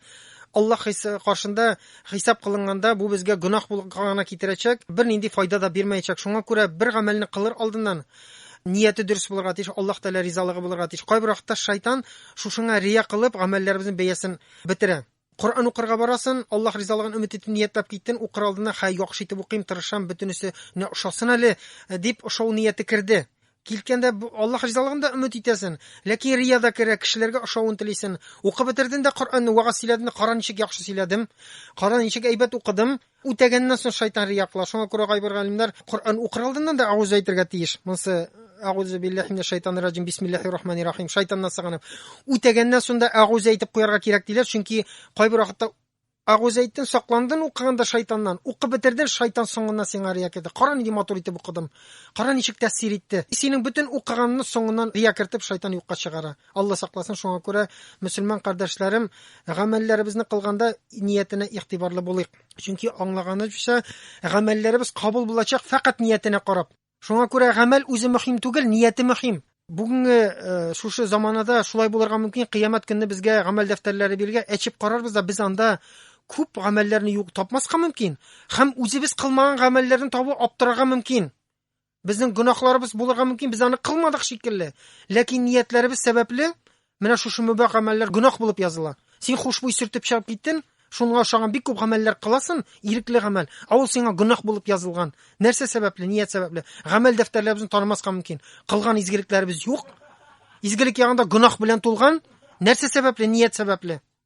Аллаһ каршында хисап кылынганда бу безгә гөнаһ гына китерәчәк, бернинди файда да бирмәячәк. Шуңа күрә бер гамәлне кылыр алдыннан нияте дөрес булырга тиеш, Аллаһ Тәгалә ризалыгы булырга тиеш. Кайбер вакытта шайтан шушыңа рия кылып гамәлләребезнең бәясен бетерә. Коръән укырга барасын, Аллаһ ризалыгын өмет итеп ниятләп киттен, укыр алдына, хәй, яхшы итеп укыйм, тырышам, бөтенесе нә ошасын әле, дип ошау нияте керде. Килткәндә, Аллаһ ризалыгын да өмет итәсен, ләкин рия да керә, кешеләргә ошавын телисен. Укып бетерден дә Коръәнне, вәгазь сөйләден, кара ничек яхшы сөйләдем, кара ничек әйбәт укыдым, Үтәгәннән соң шайтан рияклар. Шуңа күрә кайбер галимнәр Коръән укыр алдыннан да әгуз әйтергә тиеш. Монсы Әгузу биллахи минәш шайтанир раҗим. Бисмиллахир рахманир рахим. Шайтаннан сыгынам. Үтәгәннән соң да әгуз әйтеп куярга кирәк диләр, чөнки кайбер вакытта әгуз әйттен, сакландын укыганда шайтаннан. Укып бетерден, шайтан соңыннан сиңа рия керде. Кара нинди матур итеп укыдым. Кара ничек тәэсир итте. Синең бөтен укыганны соңыннан рия кертеп шайтан юкка чыгара. Алла сакласын, шуңа күрә, мөселман кардәшләрем, гамәлләребезне кылганда ниятенә игътибарлы булыйк. Чөнки аңлаганыбызча, гамәлләребез кабул булачак фәкать ниятенә карап. Шуңа күрә гамәл үзе мөһим түгел, нияте мөһим. Бүгенге э, шушы заманада шулай булырга мөмкин, кыямәт көнне безгә гамәл дәфтәрләре биргә әчеп карарбыз да, без анда күп гамәлләрне юк тапмаска мөмкин, һәм үзебез кылмаган гамәлләрне табу аптырарга мөмкин. Безнең гөнаһларыбыз булырга мөмкин, без аны кылмадык шикелле. Ләкин ниятләребез сәбәпле менә шушы мөбә гамәлләр гөнаһ булып языла. Син хушбуй сөртеп чыгып киттен, шуңа ошаган бик күп гамәлләр кыласын, ирекле гамәл, ә ул сиңа гөнаһ булып язылган. Нәрсә сәбәпле, ният сәбәпле? Гамәл дәфтәрләребезне танымаска мөмкин. Кылган изгелекләребез юк. Изгелек ягында гөнаһ белән тулган. Нәрсә сәбәпле, ният сәбәпле?